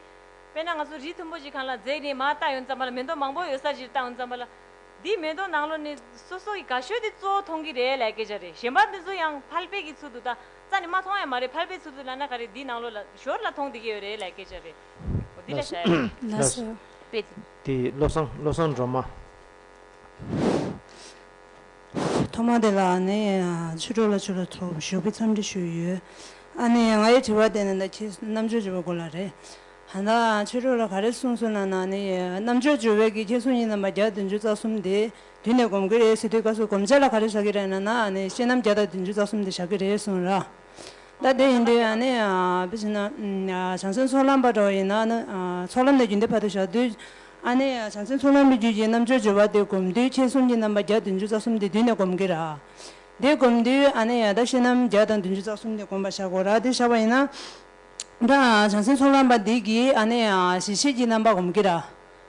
དཔེར་ན་ང་ཚོ་རི་མཐོན་པོ་ཞིག་གང་ལ་འཛེགས་ནས་མར་བཏགས་ཡོང་ཙམ་པ་ལ་མེ་ཏོག་མང་པོ་ཡོད་ས་ཞིག་ལ་བཏགས་ཡོང་ཙམ་པ་ལ། དེའི་མེ་ཏོག་ནང་ལོ་ནས་སོ་སོ་གི་ག་ཤོད་དེ་གཙོ་བོ་མཐོང་གི་རེད་ལས་སྐད་ཆ་རེད་གཞན་པ་དེ་ཚོ་ཡང་ཕལ་པའི་གི་ཚུལ་དུ་བཏགས་རྩ་ནས་མ་མཐོང་ཡང་མ་རེད་ཕལ་པའི་ཚུལ་དུ་ལབ་ན་ག་རེ་དེའི་ནང་ལོ་ལ་ཞོར་ལ་མཐོང་དེ་གི་ཡོད་རེད་ལས་སྐད་ཆ་རེད། འོ་དེ་ལ་བྱ་ཡོད་རེད། ལ་སོ། དཔེ་དེ། དེ་བློ་བཟང་བློ་བཟང་སྒྲོལ་མ། ཐོག་མ་དེ་ལ་ཨ་ནེ་ཡིས་ཕྱི་དྲོ་ལ་ཆུ་ལ་ཚོགས་པ་ཞུགས་པའི་འཚམས་འདྲི་ཞུས་ཡོད། ཨ་ནེ་ཡིས་ང་ཡི་དྲི་བར་བལྟས་ནས་ད་ཁྱེད་རྣམ་དཔྱོད་ཅུ་བའི་སྐོར་ལ་རེད། ཧན་ད་ཨང་ཕྱི་དྲོ་ལ་ག་རེ་གསུངས་སོང་ན་ན་ཨ་ནེ་ཡིས་རྣམ་དཔྱོད་ཅུ་བས་ཀྱི་ཁྱེད་གསུང་ཡིན་ནམ་པ་བརྒྱ་དང་བདུན་ཅུ་རྩ་གསུམ་དེ་དུས་ནས་གོམས་ཀྱི་རེད་ཟེར་དུས་ཀ་སུ་གོམས་ཆ་ལ་ག་རེ་བཞག་གི་རེད་ན་ན་ཨ་ནེ་ཡིས་ཤེས་ནམ་བརྒྱ་དང་བདུན་ཅུ་རྩ་གསུམ་དེ་བཞག་གི་རེད་གསུངས་ར། ད་དེ་ཡིན་དུས་ནི་དཔེ་བྱས་ན། བྱང་སེམས་ཚོགས་ལམ་པ་གྲོགས་ཡིན་ན་ནི། ཚོགས་ལམ་ནས་རྒྱུན་མཐའི་བར་དུ་བཞག་དུས། ཨ་ནི་བྱང་སེམས་ཚོགས་ལམ་གྱི་རྒྱུད་ཀྱི་རྣམ་གཅོད་སྦྱོར་བ་དེ་བསྒོམ་དུས་མཁྱེན་གསུམ་གྱི་རྣམ་པ་བརྒྱ་བདུན་ཅུ་རྩ་གསུམ་དེ་བསྡུས་ནས་བསྒོམ་གི་རག། དེ་བསྒོམ་དུས་ཨ་ནི་ཡང་དག་ཤེས་རྣམ་བརྒྱ་དང་བདུན་ཅུ་རྩ་གསུམ་དེ་བསྒོམ་པར་བྱ་དགོས་རག་དེ་བྱ་བ་ཡིན་ན། བྱང་སེམས་ཚོགས་ལམ་པ་འདི་གིས་ཨ་ནི་གཞི་ཤེས་ཀྱི་རྣམ་པ་བསྒོམ་གི་རག།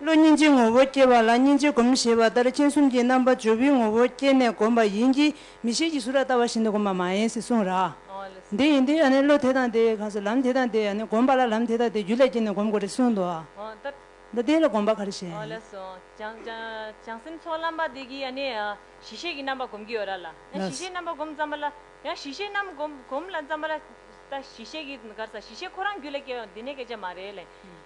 བློ་སྙིང་རྗེའི་ངོ་བོ་སྐྱེ་བ་ལ་སྙིང་རྗེ་བསྒོམ་ཞེས་པ་ལྟར་སྤྱན་གསུམ་གྱི་རྣམ་པ་ཇོ་བོའི་ངོ་བོ་བསྐྱེད་ནས་བསྒོམ་པ་ཡིན་གྱི་མི་ཤེས་ཀྱི་གཟུགས་ར་ལྟ་བ་བཞིན་དུ་བསྒོམ་པ་མ་ཡིན་ཟེར་གསུངས། ར་འདི་ཡིན་ཏེ་བློ་དེ་དང་དེ་གང་སོ་ལམ་དེ་དང་དེ་བསྒོམ་པ་ལ་ལམ་དེ་དང་དེ་རྒྱུད་ལ་སྐྱེས་ནས་བསྒོམ་དགོས་རེ་གསུངས། མདོ་སྡེ་ལ་བསྒོམ་པ་ག་རེ་བྱེད། བྱང་སེམས་ཚོགས་ལམ་པ་འདི་གིས་གཞི་ཤེས་ཀྱི་རྣམ་པ་བསྒོམ་གྱི་ཡོད་ར་ལ། ཡང་གཞི་ཤེས་རྣམ་པ་བསྒོམ་བརྩམས་པ་ལ། ཡང་གཞི་ཤེས་རྣམ་བསྒོམ་ལ་བརྩམས་པ་ལ། ད་གཞི་ཤེས་ཀྱི་གར་ས་གཞི་ཤེས་ཁོ་རང་རྒྱུད་ལ་སྐྱེ་བ་འདི་ནི་སྐད་ཆ་མ་རེད།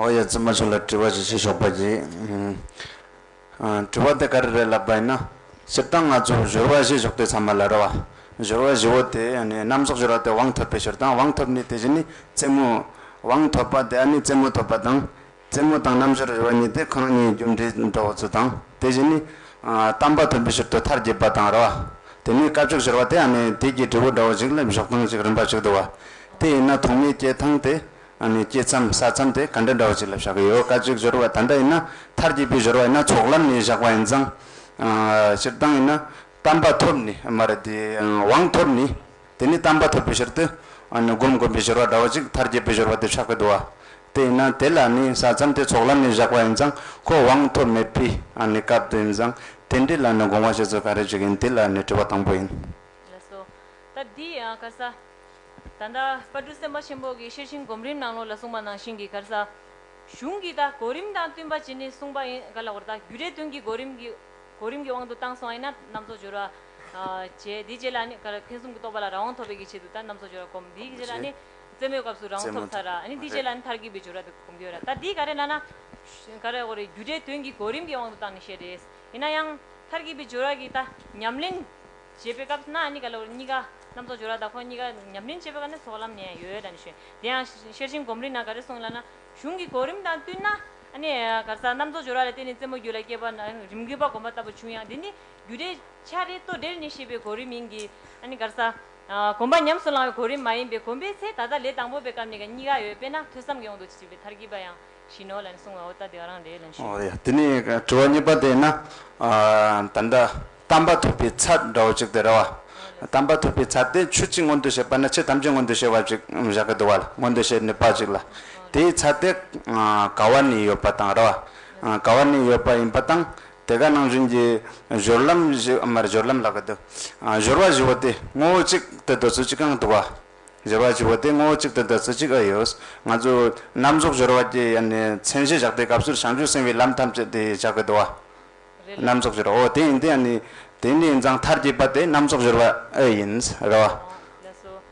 ཨོ་ཡ་རྫུན་མ་ཆོས་ལ་དྲི་བ་ཞིག་བྱེད་ཆོག་པ་གྱིས། དྲི་བ་དེ་ག་རེ་རེད་ལབ་པ་ཡིན་ན། སྤྱིར་བཏང་ང་ཚོས་གཞོལ་བ་ཞེས་གཞོགས་དུས་ཚང་མ་ལ་རོལ་བ། གཞོལ་བ་བཞི་བོ་དེ་རྣམ་གཞག་གཞོལ་བ་དེ་དབང་ཐོབ་པའི་ཕྱིར་དང་དབང་ཐོབ་ནི་དེ་བཞི་ནི་རྩེད་མོ། དབང་ཐོབ་པ་དེ་ནི་རྩེད་མོ་ཐོབ་པ་དང། རྩེད་མོ་དང་རྣམ་དཔྱོད་རེ་བ་གཉིས་ཏེ་གང་གཉིས་རྒྱུ་འབྲས་འགྲོ་བ་ཚུལ་དང། དེ་བཞི་ནི། གཏམ་པ་དོན་པའི་ཕྱིར་དུ་མཐར་གྱིས་པ་དང་རེ་བ། དེ་ནས་དཀའ་སྤྱོད་གཞིར་བ་དེ་ཡང་ནི་དུས་ཀྱི་འབྲས་བུ་འདྲ་བ་ཞིག་སླེབས་ཞོག་ཐང་ཅིག་རིམ་པ་ཞིག་དུ་བ། དེ་ཡིན་ན་ཐོག་མའི་སྐྱེས་ཐང་དེ་ཡང་ནི་སྐྱེས་མཚམས་ས་མཚམས་དེ་ག་འདྲ་འདྲ་བ་ཞིག་སླེབས་བཞག་གི་ཡོད་དཀའ་སྤྱོད་གཞིར་བ་ད་འདྲ་ཡིན་ན་མཐར་གྱིས་པའི་གཞིར་བ་ཡིན་ན་ཚོགས་ལམ་ནས་བཞག་པ་ཡིན་ཙང། སྤྱིར་བཏང་ཡིན་ན། གཏམ་པ་ཐོབ་ནས་མ་རེད་དེ། དབང་ཐོབ་ནས། དེ་ནས་བལྟམས་པ་ཐོབ་པའི་ཕྱིར་དུ། བསྒོམ་བསྒོམ་པའི་སྦྱོར་བ་འདྲ་བ་ཅིག་མཐར་རྒྱས་པའི་སྦྱོར་བ་དེ་ཆགས་པའི་བསྡུ་བ། དེ་ཡིན་ན་དེ་ལ་ནི་ས་མཚམས་དེ་ཚོགས་ལམ་ནས་བཞག་པ་ཡིན་ཙང་ཁོ་དབང་ཐོབ་མེད་པའི་སྐབས་དུ་ཡིན་ཙང་དེ་འདྲའི་ལ་ནི་དགོངས་པ་བྱེད་ཚུལ་ག་རེ་ཅིག་ཡིན་དེ་ལ་ནི་དྲི་བ་དང་པོ་ཡིན། ལགས་སོ། ད་འདི་ཡང་གར་ས། ད་ལྟ་པར་འབྲུ་སེམས་དཔའ་ཆེན་པོ་གིས་ཤེར་ཕྱིན་སྒོམ་རིམ་ནང་ལོགས་ལ་གསུངས་པ་ནང་བཞིན་གྱི་གར་ས། གཞུང་གིས་ད་གོ་རིམ་དང་བསྟུན་པ་བྱས་ནས་གསུངས་པ་ཡིན་ག་ལ་བར་ད་རྒྱུ་རེ་དོན་གྱི་གོ་རིམ་གྱི་གོ་རིམ་གྱི་དབང་དུ་བཏང་སོང་ཡིན་ན་རྣམ་རྫོགས་སྦྱོར་བ། དེའི་རྗེས་ལ་ནི། ཐེག་གསུམ་གྱི་རྟོགས་པ་ལ་རང་དབང་ཐོབ་པའི་ཀྱི་ཆེད་དུ་ལྟར་རྣམ་གསུམ་སྦྱོར་བར་བསྒོམ། དེའི་རྗེས་ལ་ནི། རྩེ་མོའི་སྐབས་སུ་རང་དབང་ཐོབ་ཚར། དེའི་རྗེས་ལ་ནི་མཐར་གྱིས་པའི་སྦྱོར་བ་དེ་བསྒོམ་དགོས། ལྟར་འདིའི་ག་རེ་ན་ན། རྒྱུ་འབྲས་དོན་གྱི་གོ་རིམ་གྱི་དབང་དུ་བཏང་ནས་བཤད་དེ། ཡིན་ན་ཡང། མཐར་གྱིས་པའི་སྦྱོར་བ་གྱི་ད་ཉམས་ལེན། བྱེད་པའི་སྐབས་ན་ནི་ག་ལ་གཉིས་ཀ། རྣམ་རྟོག་སྦྱོར་བ་དང་ཁོ་ནི་གཉིས་ཀ་ཉམས་ལེན་བྱེད་པའི་སྐབས་ན་སོགས་ལམ་ནས་ཡོད་དམ་ཞེ། དེ་ཡང། ཤེར་ཕྱིན་སྒོམ་རིག་ན་ག་རེ་གསུངས་ལ་ན། གཞུང་གི་གོ་རིམ་དང་བསྟུན་ན། རྣམ་རྟོག་སྦྱོར་བ་ལ་བརྟེན་ནས་རྩེ་མོ་རྒྱུད་ལ་སྐྱེས་པ། རིམ་གྱིས་པ་སྒོམ་པ་ལྟ་བུ་བྱུང་ཡང་དེ་ནི། རྒྱུ་རེད། ཆ་རེད། ལྟོ་ལྡེར་ནི་ཤེས་པའི་གོ་རིམ་ཡིན་གྱི། ཨ་ནི་གར་ས། གོམས་པ་ཉམས་སུ་བླང་བའི་གོ་རིམ་མ་ཡིན་པས་གོམས་པའི་ཚེ་ད་ལྟ་ལས་དང་པོ་པའི་སྐབས་ནས་ཀྱང་གཉིས་ཀ་ཡོད་དཔེར་ན་ཐོས་བསམ་གྱི་དབང་དུ་བྱས་པའི་མཐར་གྱིས་པ་ཡང་བཞིན་ནོ་ལ་ནི་གསུང་བའོ་ལྟ་དེ་ག་རང་རེད་ལན་ཞུ། འོ་ཡ། དེ་ནས་དྲི་བ་གཉིས་པ་དེ་ན། ད་ལྟ་གཏམ་པ་ཐོས་པའི་ཚད་འདྲ་བོ་གཅིག་དེ་རེད་བ། གཏམ་པ་ཐོས་པའི་ཚད་དེ་ཆོས་གཅིག་མངོན་དུ་བྱེད་པ་ན་ཆོས་ཐམས་ཅད་མངོན་དུ་བྱེད་པ་གཅིག་བཞག་གི་འདུག་བ་ལ་མངོན་དུ་བྱེད་ནུས་པ་གཅིག་ལ། དེའི་ཚད་དེ་ག་བ་ནས་ཡོད་པ་དང་རེད་བ། ག་བ་ནས་ཡོད་པ་ཡིན་པ་དང། དེ་ག་ནང་བཞིན་གྱི་སྦྱོར་ལམ་བཞི། མར་སྦྱོར་ལམ་ལ་གི་དུ། སྦྱོར་བ་བཞི་བོ་དེ་ངོ་བོ་གཅིག་དུ་དུ་ཚུལ་གཅིག་གང་དུ་བ། སྦྱོར་བ་བཞི་བོ་དེ་ངོ་བོ་གཅིག་དུ་དུ་ཚུལ་གཅིག་ཨ་ཡོད། ང་ཚོས་རྣམ་རྫོགས་སྦྱོར་བ་ཀྱི་ཡན་ནས་མཚན་གཞི་བཞག་པའི་སྐབས་སུ་བྱང་ཆུབ་སེམས་དཔའི་ལམ་ཐམས་ཅད་དེ་བཞག་གི་དུ་བ། རྣམ་རྫོགས་སྦྱོར་བ་འོ་དེ་ཡིན་དེ་ཡན་ནས་དེ་ནས་འཛངས་མཐར་གྱིས་པ་དེ་རྣམ་རྫོགས་སྦྱོར་བ་ཨེ་ཡིན། རེ་བ།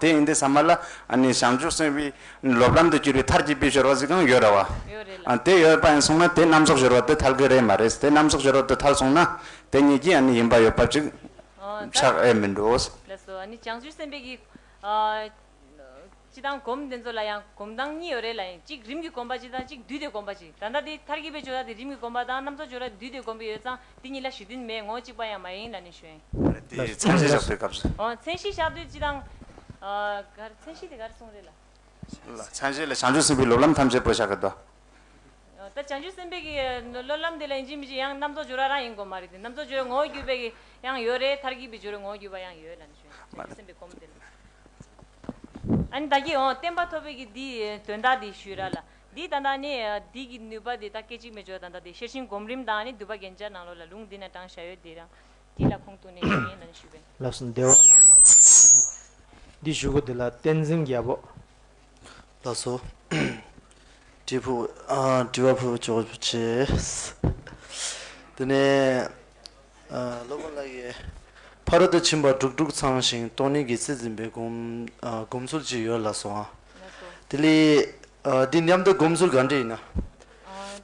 དེ་ཡིན་དེ་ས་མ་ལ་ནི་བྱང་ཆུབ་སེམས་དཔའི་སློབ་ལམ་དུ་གྱུར་པའི་མཐར་གྱིས་དཔེ་ཤོར་བ་ཟིག་གང་ཡོད་ར་བ། དེ་ཡོད་པ་ཡིན་གསུངས་ན་དེ་རྣམ་གཟོགས་ཤོར་བ་དེ་ཐལ་གི་རེད་མ་རེད་དེ་རྣམ་གཟོགས་ཤོར་བ་དེ་ཐལ་གསུངས་ན་དེ་ཉིད་ཀྱིས་ནི་ཡིན་པ་ཡོད་པ་ཅིག་ཆགས་ཨེ་མི་འགྲོ། སྤྱི་དང་སྒོམ་དེ་ཚོ་ལ་ཡང་སྒོམ་སྟངས་གཉིས་ཡོད་རེད་ལ་ཡིན་གཅིག་རིམ་གྱིས་སྒོམ་པ་གཅིག་དང་གཅིག་བསྡུས་ཏེ་སྒོམ་པ་གཅིག་ད་ལྟ་དེ་ཐར་གྱི་བའི་ཆོས་དག་དེ་རིམ་གྱིས་སྒོམ་པ་དང་རྣམ་རྫོགས་ཆོས་ར་དེ་བསྡུས་ཏེ་སྒོམ་པའི་ཡོད་ཙང་དེ་གཉིས་ལ་ཞུ་དོན་མེད་ངོ་གཅིག་པ་ཡང་མ་ཡིན་ལ་ནི་ཞོན། རེད་དེ་མཚན་གཞི་བཞག་པའི་སྐབས་སུ། འོ་མཚན་གཞི་བཞག་དུས་སྤྱི་དང། གར་མཚན་གཞི་དེ་གར་གསུངས་རེད་ལ། ལ། མཚན་གཞི་ལ་བྱང་ཆུབ་སེམས་དཔའི་སློབ་ལམ་ཐམས་ཅད་བོད་བཞག་གི་དོ། ད་བྱང་ཆུབ་སེམས་དཔའི་གི་སློབ་ལམ་དེ་ལ་ཡིན་གཅིག་མི་གཅིག་ཡང་རྣམ་རྫོགས་ཆོས་ར་རང་ཡིན་དགོས་མ་རེད་དེ་རྣམ་རྫོགས་ཆོས་ངོ་བོ་བརྒྱུད་པའི་གི་ཡང་ཡོད་རེད་ཐར་གྱི་བའི་ཆོས་ར་ངོ་བོ་བརྒྱུད་པ་ཡང་ཡོད་ལ་ནི་ཞོན་བྱང་ཆུབ་སེམས་དཔའི་སྒོམ་དེ་ལ། བདག་གིས་འོང་བསྟན་པ་ཐོབ་བས་ཀྱིས་འདི་དོན་དག་འདི་ཞུས་ར་ལ། འདིས་ད་ལྟ་ནི་འདི་གི་ནུས་པ་འདི་ད་སྐད་ཅིག་མའི་སྦྱོར་བ་ད་ལྟ་འདི་ཤེར་ཕྱིན་སྒོམ་རིམ་དང་ནི་འདུས་པ་རྒྱན་ཆ་ནང་ལོགས་ལ་ལུང་འདི་ན་དྲང་བཞག་ཡོད་འདི་རང་འདི་ལ་ཁོང་དུ་ནས་ཞུས་ངས་ད་ནི་ཞུས་པས། ལབ་སོང་བདེ་བ་ལ་མ་ཐོབ་ཀྱི་ཡོད་ན། འདི་ཞུ་གོ་འདི་ལ་བསྟན་འཛིན་རྒྱལ་པོ། ལབ་སོ། དྲི་བ་ཕུལ་བ་ཅོག་བྱས། དེ་ནས། སློབ་དཔོན་ལ་ཡི། ཕ་རོལ་ཏུ་ཕྱིན་པ་དྲུག་དྲུག་ཚང་ཞིང་སྟོང་ཉིད་ཀྱི་སྲིད་འཛིན་པའི་སྒོམ་ཚུལ་གཅིག་ཡོད་ལགས་སོ། དེ་ལས། འདི་མཉམ་དུ་སྒོམ་ཚུལ་ག་འདྲས་ཡིན་ན།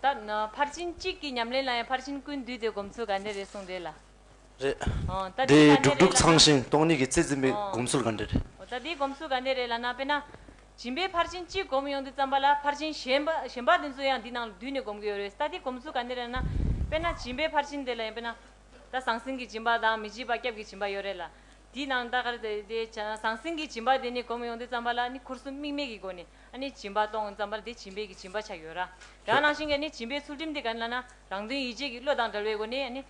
ད། ཕར་ཕྱིན་གཅིག་གི་ཉམས་ལེན་ལ་ཡང་ཕར་ཕྱིན་ཀུན་འདུས་དེ་སྒོམ་ཚུལ་ག་འདྲས་རེད་གསུངས་རེད་ལ། རེད། དེ་དྲུག་དྲུག་ཚང་ཞིང་སྟོང་ཉིད་ཀྱི་སྲིད་འཛིན་པའི་སྒོམ་ཚུལ་ག་འདྲས་རེད། ད་དེའི་སྒོམ་ཚུལ་ག་འདྲས་རེད་ལ་ན་དཔེར་ན། སྦྱིན་པའི་ཕར་ཕྱིན་གཅིག་བསྒོམ་ཡོང་དུས་བརྩམས་པ་ལ་ཕར་ཕྱིན་གཞན་པ་གཞན་པ་དེ་ཚོ་ཡང་འདི་ནང་འདུས་ནས་བསྒོམ་གི་ཡོད་རེད་ད་འདི་གོམས་ཚུལ་ག་ནི་རེད་ན། དཔེར་ན་སྦྱིན་པའི་ཕར་ཕྱིན་དེ་ལ་ཡང་དཔེར་ན། ད་ཟང་ཟིང་གི་སྦྱིན་པ་དང་མི་སྦྱིན་པ་སྐྱབས་ཀྱི་སྦྱིན་པ་ཡོད་རེད་ལ། དེའི་ནང་ད་གར་དེ་ཟང་ཟིང་གི་སྦྱིན་པ་དེ་ནི་བསྒོམ་ཡོང་དུས་བརྩམས་པ་ལ་ནི་ཁུར་གསུམ་དམིགས་མེད་ཀྱི་སྒོ་ནས་ཨ་ནི་སྦྱིན་པ་གཏོང་ངོ་བརྩམས་པ་ལ་དེ་སྦྱིན་པའི་གྱི་སྦྱིན་པ་ཆགས་ཡོད་ར། རང་ནང་བཞིན་གྱི་ཨ་ནི་སྦྱིན་པའི་ཚུལ་ཁྲིམས་དེ་ག་ནི་ལ་ན་རང་དོན་ཡིད་བྱེད་ཀྱི་བློ་དང་འདྲ་བའི་སྒོ་ནས་ཨ་ནི།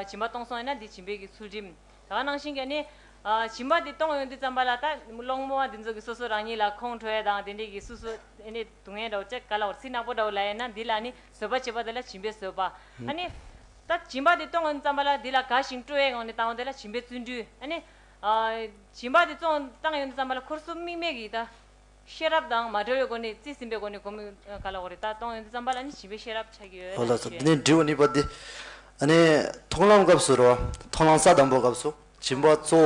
སྦྱིན་པ་གཏོང་སོང་ཡིན་ན་དེ་སྦྱིན་པའི་གྱི་ཚུལ་ཁྲིམས། ད་ག་ནང་བཞིན་གྱི་ནི། བྱིན་པ་འདི་གཏོང་ཡོང་དུས་ཙམ་པ་ལ་ད། སློང་མོ་བ་འདི་ཚོ་གི་སོ་སོ་རང་ཉིད་ལ་ཁོང་ཁྲོ་ཡ་དང་དེ་འདྲས་ཀྱི་སུ་སུ་ཨེ་ནི་སྡུག་བསྔལ་འདྲ་བོ་ཅི་ག་ལ་བར་ཚིག་ནག་པོ་འདྲ་བོ་ལ་ཡ་ན་འདི་ལ་ནི་བཟོད་པ་བྱེད་པ་དེ་ལ་བྱིན་པས་བཟོད་པ། ཨ་ནི། ད་བྱིན་པ་འདི་གཏོང་ཡོང་དུས་ཙམ་པ་ལ་འདི་ལ་ག་ཞིང་སྤྲོ་བའི་ངང་ནས་བཏང་བ་དེ་ལ་བྱིན་པས་བརྩོན་འགྲུས། ཨ་ནི། བྱིན་པ་འདི་བཙོང་བཏང་ཡོང་དུས་ཙམ་པ་ལ་འཁོར་གསུམ་དམིགས་མེད་ཀྱི་ད། ཤེས་རབ་དང་མ་བྲལ་བའི་སྒོ་ནས་རྩིས་ཟིན་པའི་སྒོ་ནས་བསྒོམ་མི་ག་ལ་འོ་རེད་ད་སྟོང་ཡོན་ཏན་བརྩམས་པ་ལ་ནི་བྱིས་པའི་ཤེས་རབ་ཆགས་ཀྱི་ཡོད་ལ་ཞེས་བརྗོད། འདྲི་བ་ནི་པ་འདི་ཨ་ནི་མཐོང་ལམ་སྐབས་སུ་རོ་མཐོང་ལམ་ས་དང་པོ་སྐབས་སུ་བྱིན་པ་གཙོ་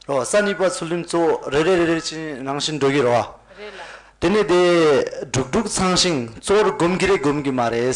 བོ་རོ་ས་ནི་པ་ཚུལ་ཁྲིམས་གཙོ་བོ་རེ་རེ་རེ་རེ་ཅན་རང་བཞིན་འགྲོ་གི་རོ། རེད་ལ། དེ་ནི་དེ་དྲུག་དྲུག་ཚང་ཞིང་གཙོ་བོར་བསྒོམ་གི་རེད་བསྒོམ་གི་མ་རེད།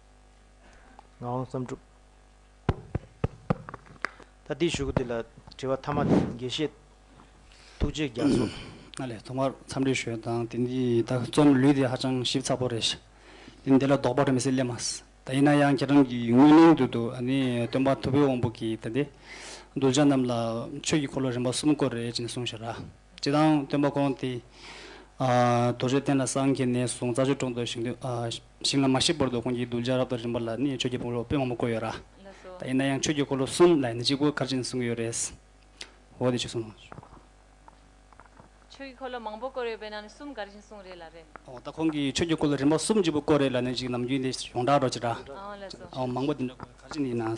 ངག་དབང་བསམ་གྲུབ། ད་འདི་ཞུ་གི་འདི་ལ་དྲི་བ་མཐའ་མ་དེ་དགེ་བཤེས་ཐུགས་རྗེ་རྒྱ་མཚོ། ང་ལས་ཐོག་མར་འཚམས་འདྲི་ཞུས་དང་དེ་འདི་ད་རྩོམ་ལུས་དེ་ཧ་ཅང་ཞིབ་ཚགས་པོ་རེད་ཤག་དེ་འདི་ལ་ལྡོག་པ་རེད་མི་སྲིད་སླད་མ་ད་ཡིན་ན་ཡང་ཁྱེད་རང་གི་དངོས་གླིང་དུ་དུ་ཨ་ནི་སྟོན་པ་ཐུ་བྷོད་དབང་པོ་གིས་ད་འདི་གདུལ་བྱ་རྣམས་ལ་ཆོས་ཀྱི་འཁོར་ལོ་རིམ་པ་གསུམ་བསྐོར་རེད་ཅེས་གསུངས་ཤག་ར་ཅེས་དང་སྟོན་པ་ཁོང་དེ་རྡོ་རྗེ་གདན་ལ་སངས་རྒྱས་ནས་བཟུང་རྩྭ་ཆུ་གྲོང་དུ་ཞིང་དུ་ཞིང་ལ་མ་ཞིག་པོར་འདུག་ཁོང་གིས་གདུལ་བྱ་རབ་དང་རིམ་པ་ལ་ནི་ཆོས་ཀྱི་སྤོ་ལོ་དཔོན་མང་པོ་བསྐོས་ཡོད་ར། ད་ཡིན་ན་ཡང་ཆོས་ཀྱི་འཁོར་ལོ་གསུམ་ལ་ནི་གཅིག་པོ་གར་ཅིག་ནི་གསུང་གི་ཡོད་རེད། འོ་དེ་ཆོས་གསུང་ངོ། ཆོས་ཀྱི་འཁོར་ལོ་མང་པོ་བསྐོར་ཡོད་པས་ན་ནི་གསུམ་གར་ཅིག་ནི་གསུང་རེད་ལ་རེད། འོ་ད་ཁོང་གིས་ཆོས་ཀྱི་འཁོར་ལོ་རིམ་པ་གསུམ་གཅིག་པོ་བསྐོར་རེད་ལ་ནི་གཅིག་ནམ་རྒྱུན་དེ་ཡོངས་གྲགས་འགྲོ་ཅི་ར། འོ་མང་པོ་དེ་འདྲ་བསྐོར་གར་ཅིག་ནི་ཡིན་ན།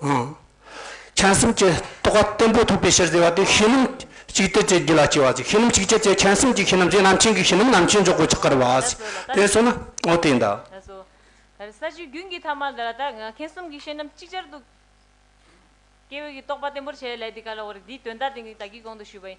མཁྱེན་སེམས་ཀྱི་རྟོགས་པ་བརྟན་པོ་ཐོབ་པའི་ཕྱིར་ཟེར་བ་དེ་ཤེས་རྣམ་གཅིག་སྟེ་དེ་རྒྱུད་ལ་སྐྱེ་བ་ཟེར་ཤེས་རྣམ་གཅིག་སྐྱེ་ཚེ་མཁྱེན་སེམས་ཀྱི་ཤེས་རྣམ་ཞེས་རྣམ་མཁྱེན་གྱི་ཤེས་རྣམ་རྣམ་མཁྱེན་འཇོག་གོ་ཆགས་ཀར་བ། དེ་སོ་ན་ཨོ་དེ་འདྲ། ས་བཅུའི་རྒྱུན་གྱི་ཐ་མ་འདི་ལ་དག་མཁྱེན་གསུམ་གྱི་ཤེས་རྣམ་གཅིག་ཅར་དུ་སྐྱེ་བའི་རྟོགས་པ་བརྟན་པོར་བྱས་ལས་དེ་ག་ལ་བ་རེད་དེའི་དོན་དག་དེ་ནི་བདག་གིས་གོང་དུ་ཞུས་པ་ཡིན་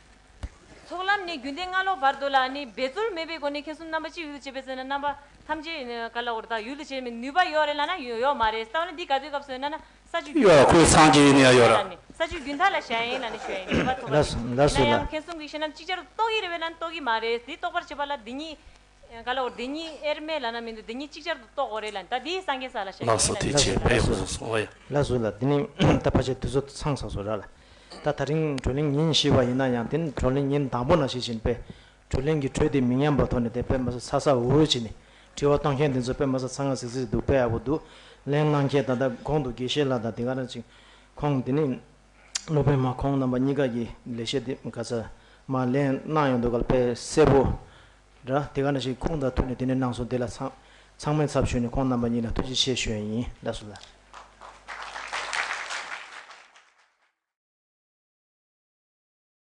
ཚོགས་ལམ་ནི་རྒྱུན་ལྡན་སྔ་ལོགས་བར་དོ་ལ་ནི་འབད་རྩོལ་མེད་པའི་སྒོ་ནས་མཁྱེན་གསུམ་རྣམ་པ་གཅིག་ཡུལ་དུ་བྱེད་པའི་ཚེ་ན་རྣམ་པ་ཐམས་ཅད་ག་ལ་བོར་དག་ཡུལ་དུ་བྱེད་པའི་ནུས་པ་ཡོད་རེད་ལ་ན་ཡོད་མ་རེད་བསམ་ན་འདི་ག་ཚོད་སྐབས་སོན་ན་ན་ས་བཅུ་རྒྱུན་མཐའ་ལ་ཡིན་ལ་ནི་ས་བཅུ་རྒྱུན་མཐའ་ལ་ཞལ་ཡིན་ལ་ནི་ཞལ་ཡིན་ནུས་པ་ཐོབ་པ་རེད། ཡིན་ན་ཡང་མཁྱེན་གསུམ་གྱི་ཤེས་རྣམ་ཅིག་ཅར་དུ་རྟོགས་ཀྱི་རེད་བས་ན་རྟོགས་ཀྱི་མ་རེད་འདི་རྟོགས་པར་བྱེད་པ་ལ་འདི་ཉིད་ག་ལ་འོ་འདི་གཉིས་ཨེར་མེ་ལ་ན་མིན་འདུག་འདི་གཉིས་གཅིག་ཅར་དུ་རྟོགས་འོ་རེད་ལ་ད་དེའི་སངས་རྒྱས་ས་ལ་ཞེས་ལགས་སོ་དེ་བྱས་པས་ཧོ་སོགས་སོ་ཨེ། ལགས་སོ་ལ་དེ་ནི་ད་ཕ་ཆད་དུས་སོ་ཚང་ས་སོ་ར་ལ་ད་ད་རིང་དྲོད་ལེན་ཉིན་ཤི་བ་ཡིན་ན་ཡང་དེ་ནི་དྲོད་ལེན་ཉིན་དང་པོ་ན་ཤི་བཞིན་པས་དྲོད་ལེན་གྱི་དྲོད་དེ་མི་ཉམས་པ་ཐོག་ནས་དེ་པད་མ་ས་ཚ་ཚ་འུར་འུར་བྱེད་ནས་དྲི་བ་གཏོང་མཁན་དེ་ཚོ་པད་མ་ས་ཚ་ང་ཟིག་ཟིག་འདུག་པས་ཨ་བོ་བསྡུ་ལེན་གནང་མཁན་ད་ད་གོང་དུ་དགེ་བཤེས་ལགས་དང་དེ་ག་རང་ཅིག་ཁོང་དེ་ནི་སློབ་དཔོན་མ་ཁོང་རྣམ་པ་གཉིས་ཀ་གྱིས་ལེགས་བཤད་དེ་ག་ཚད་མ་ལེན་གནང་ཡོང་འདུག་ག་ལ་དཔེ་གསལ་པོ་འདྲ་དེ་ག་འདྲ་ཞིག་ཁོང་དང་ཐུག་ནས་དེ་ནས་གནང་སོང་དེ་ལ་ཚང་ཚང་མས་ཚབ་ཞུས་ནས་ཁོང་རྣམ་པ་གཉིས་ལ་ཐུགས་རྗེ་ཆེ་ཞུ་ཡས་ཡིན་ལགས་སོ་ལ།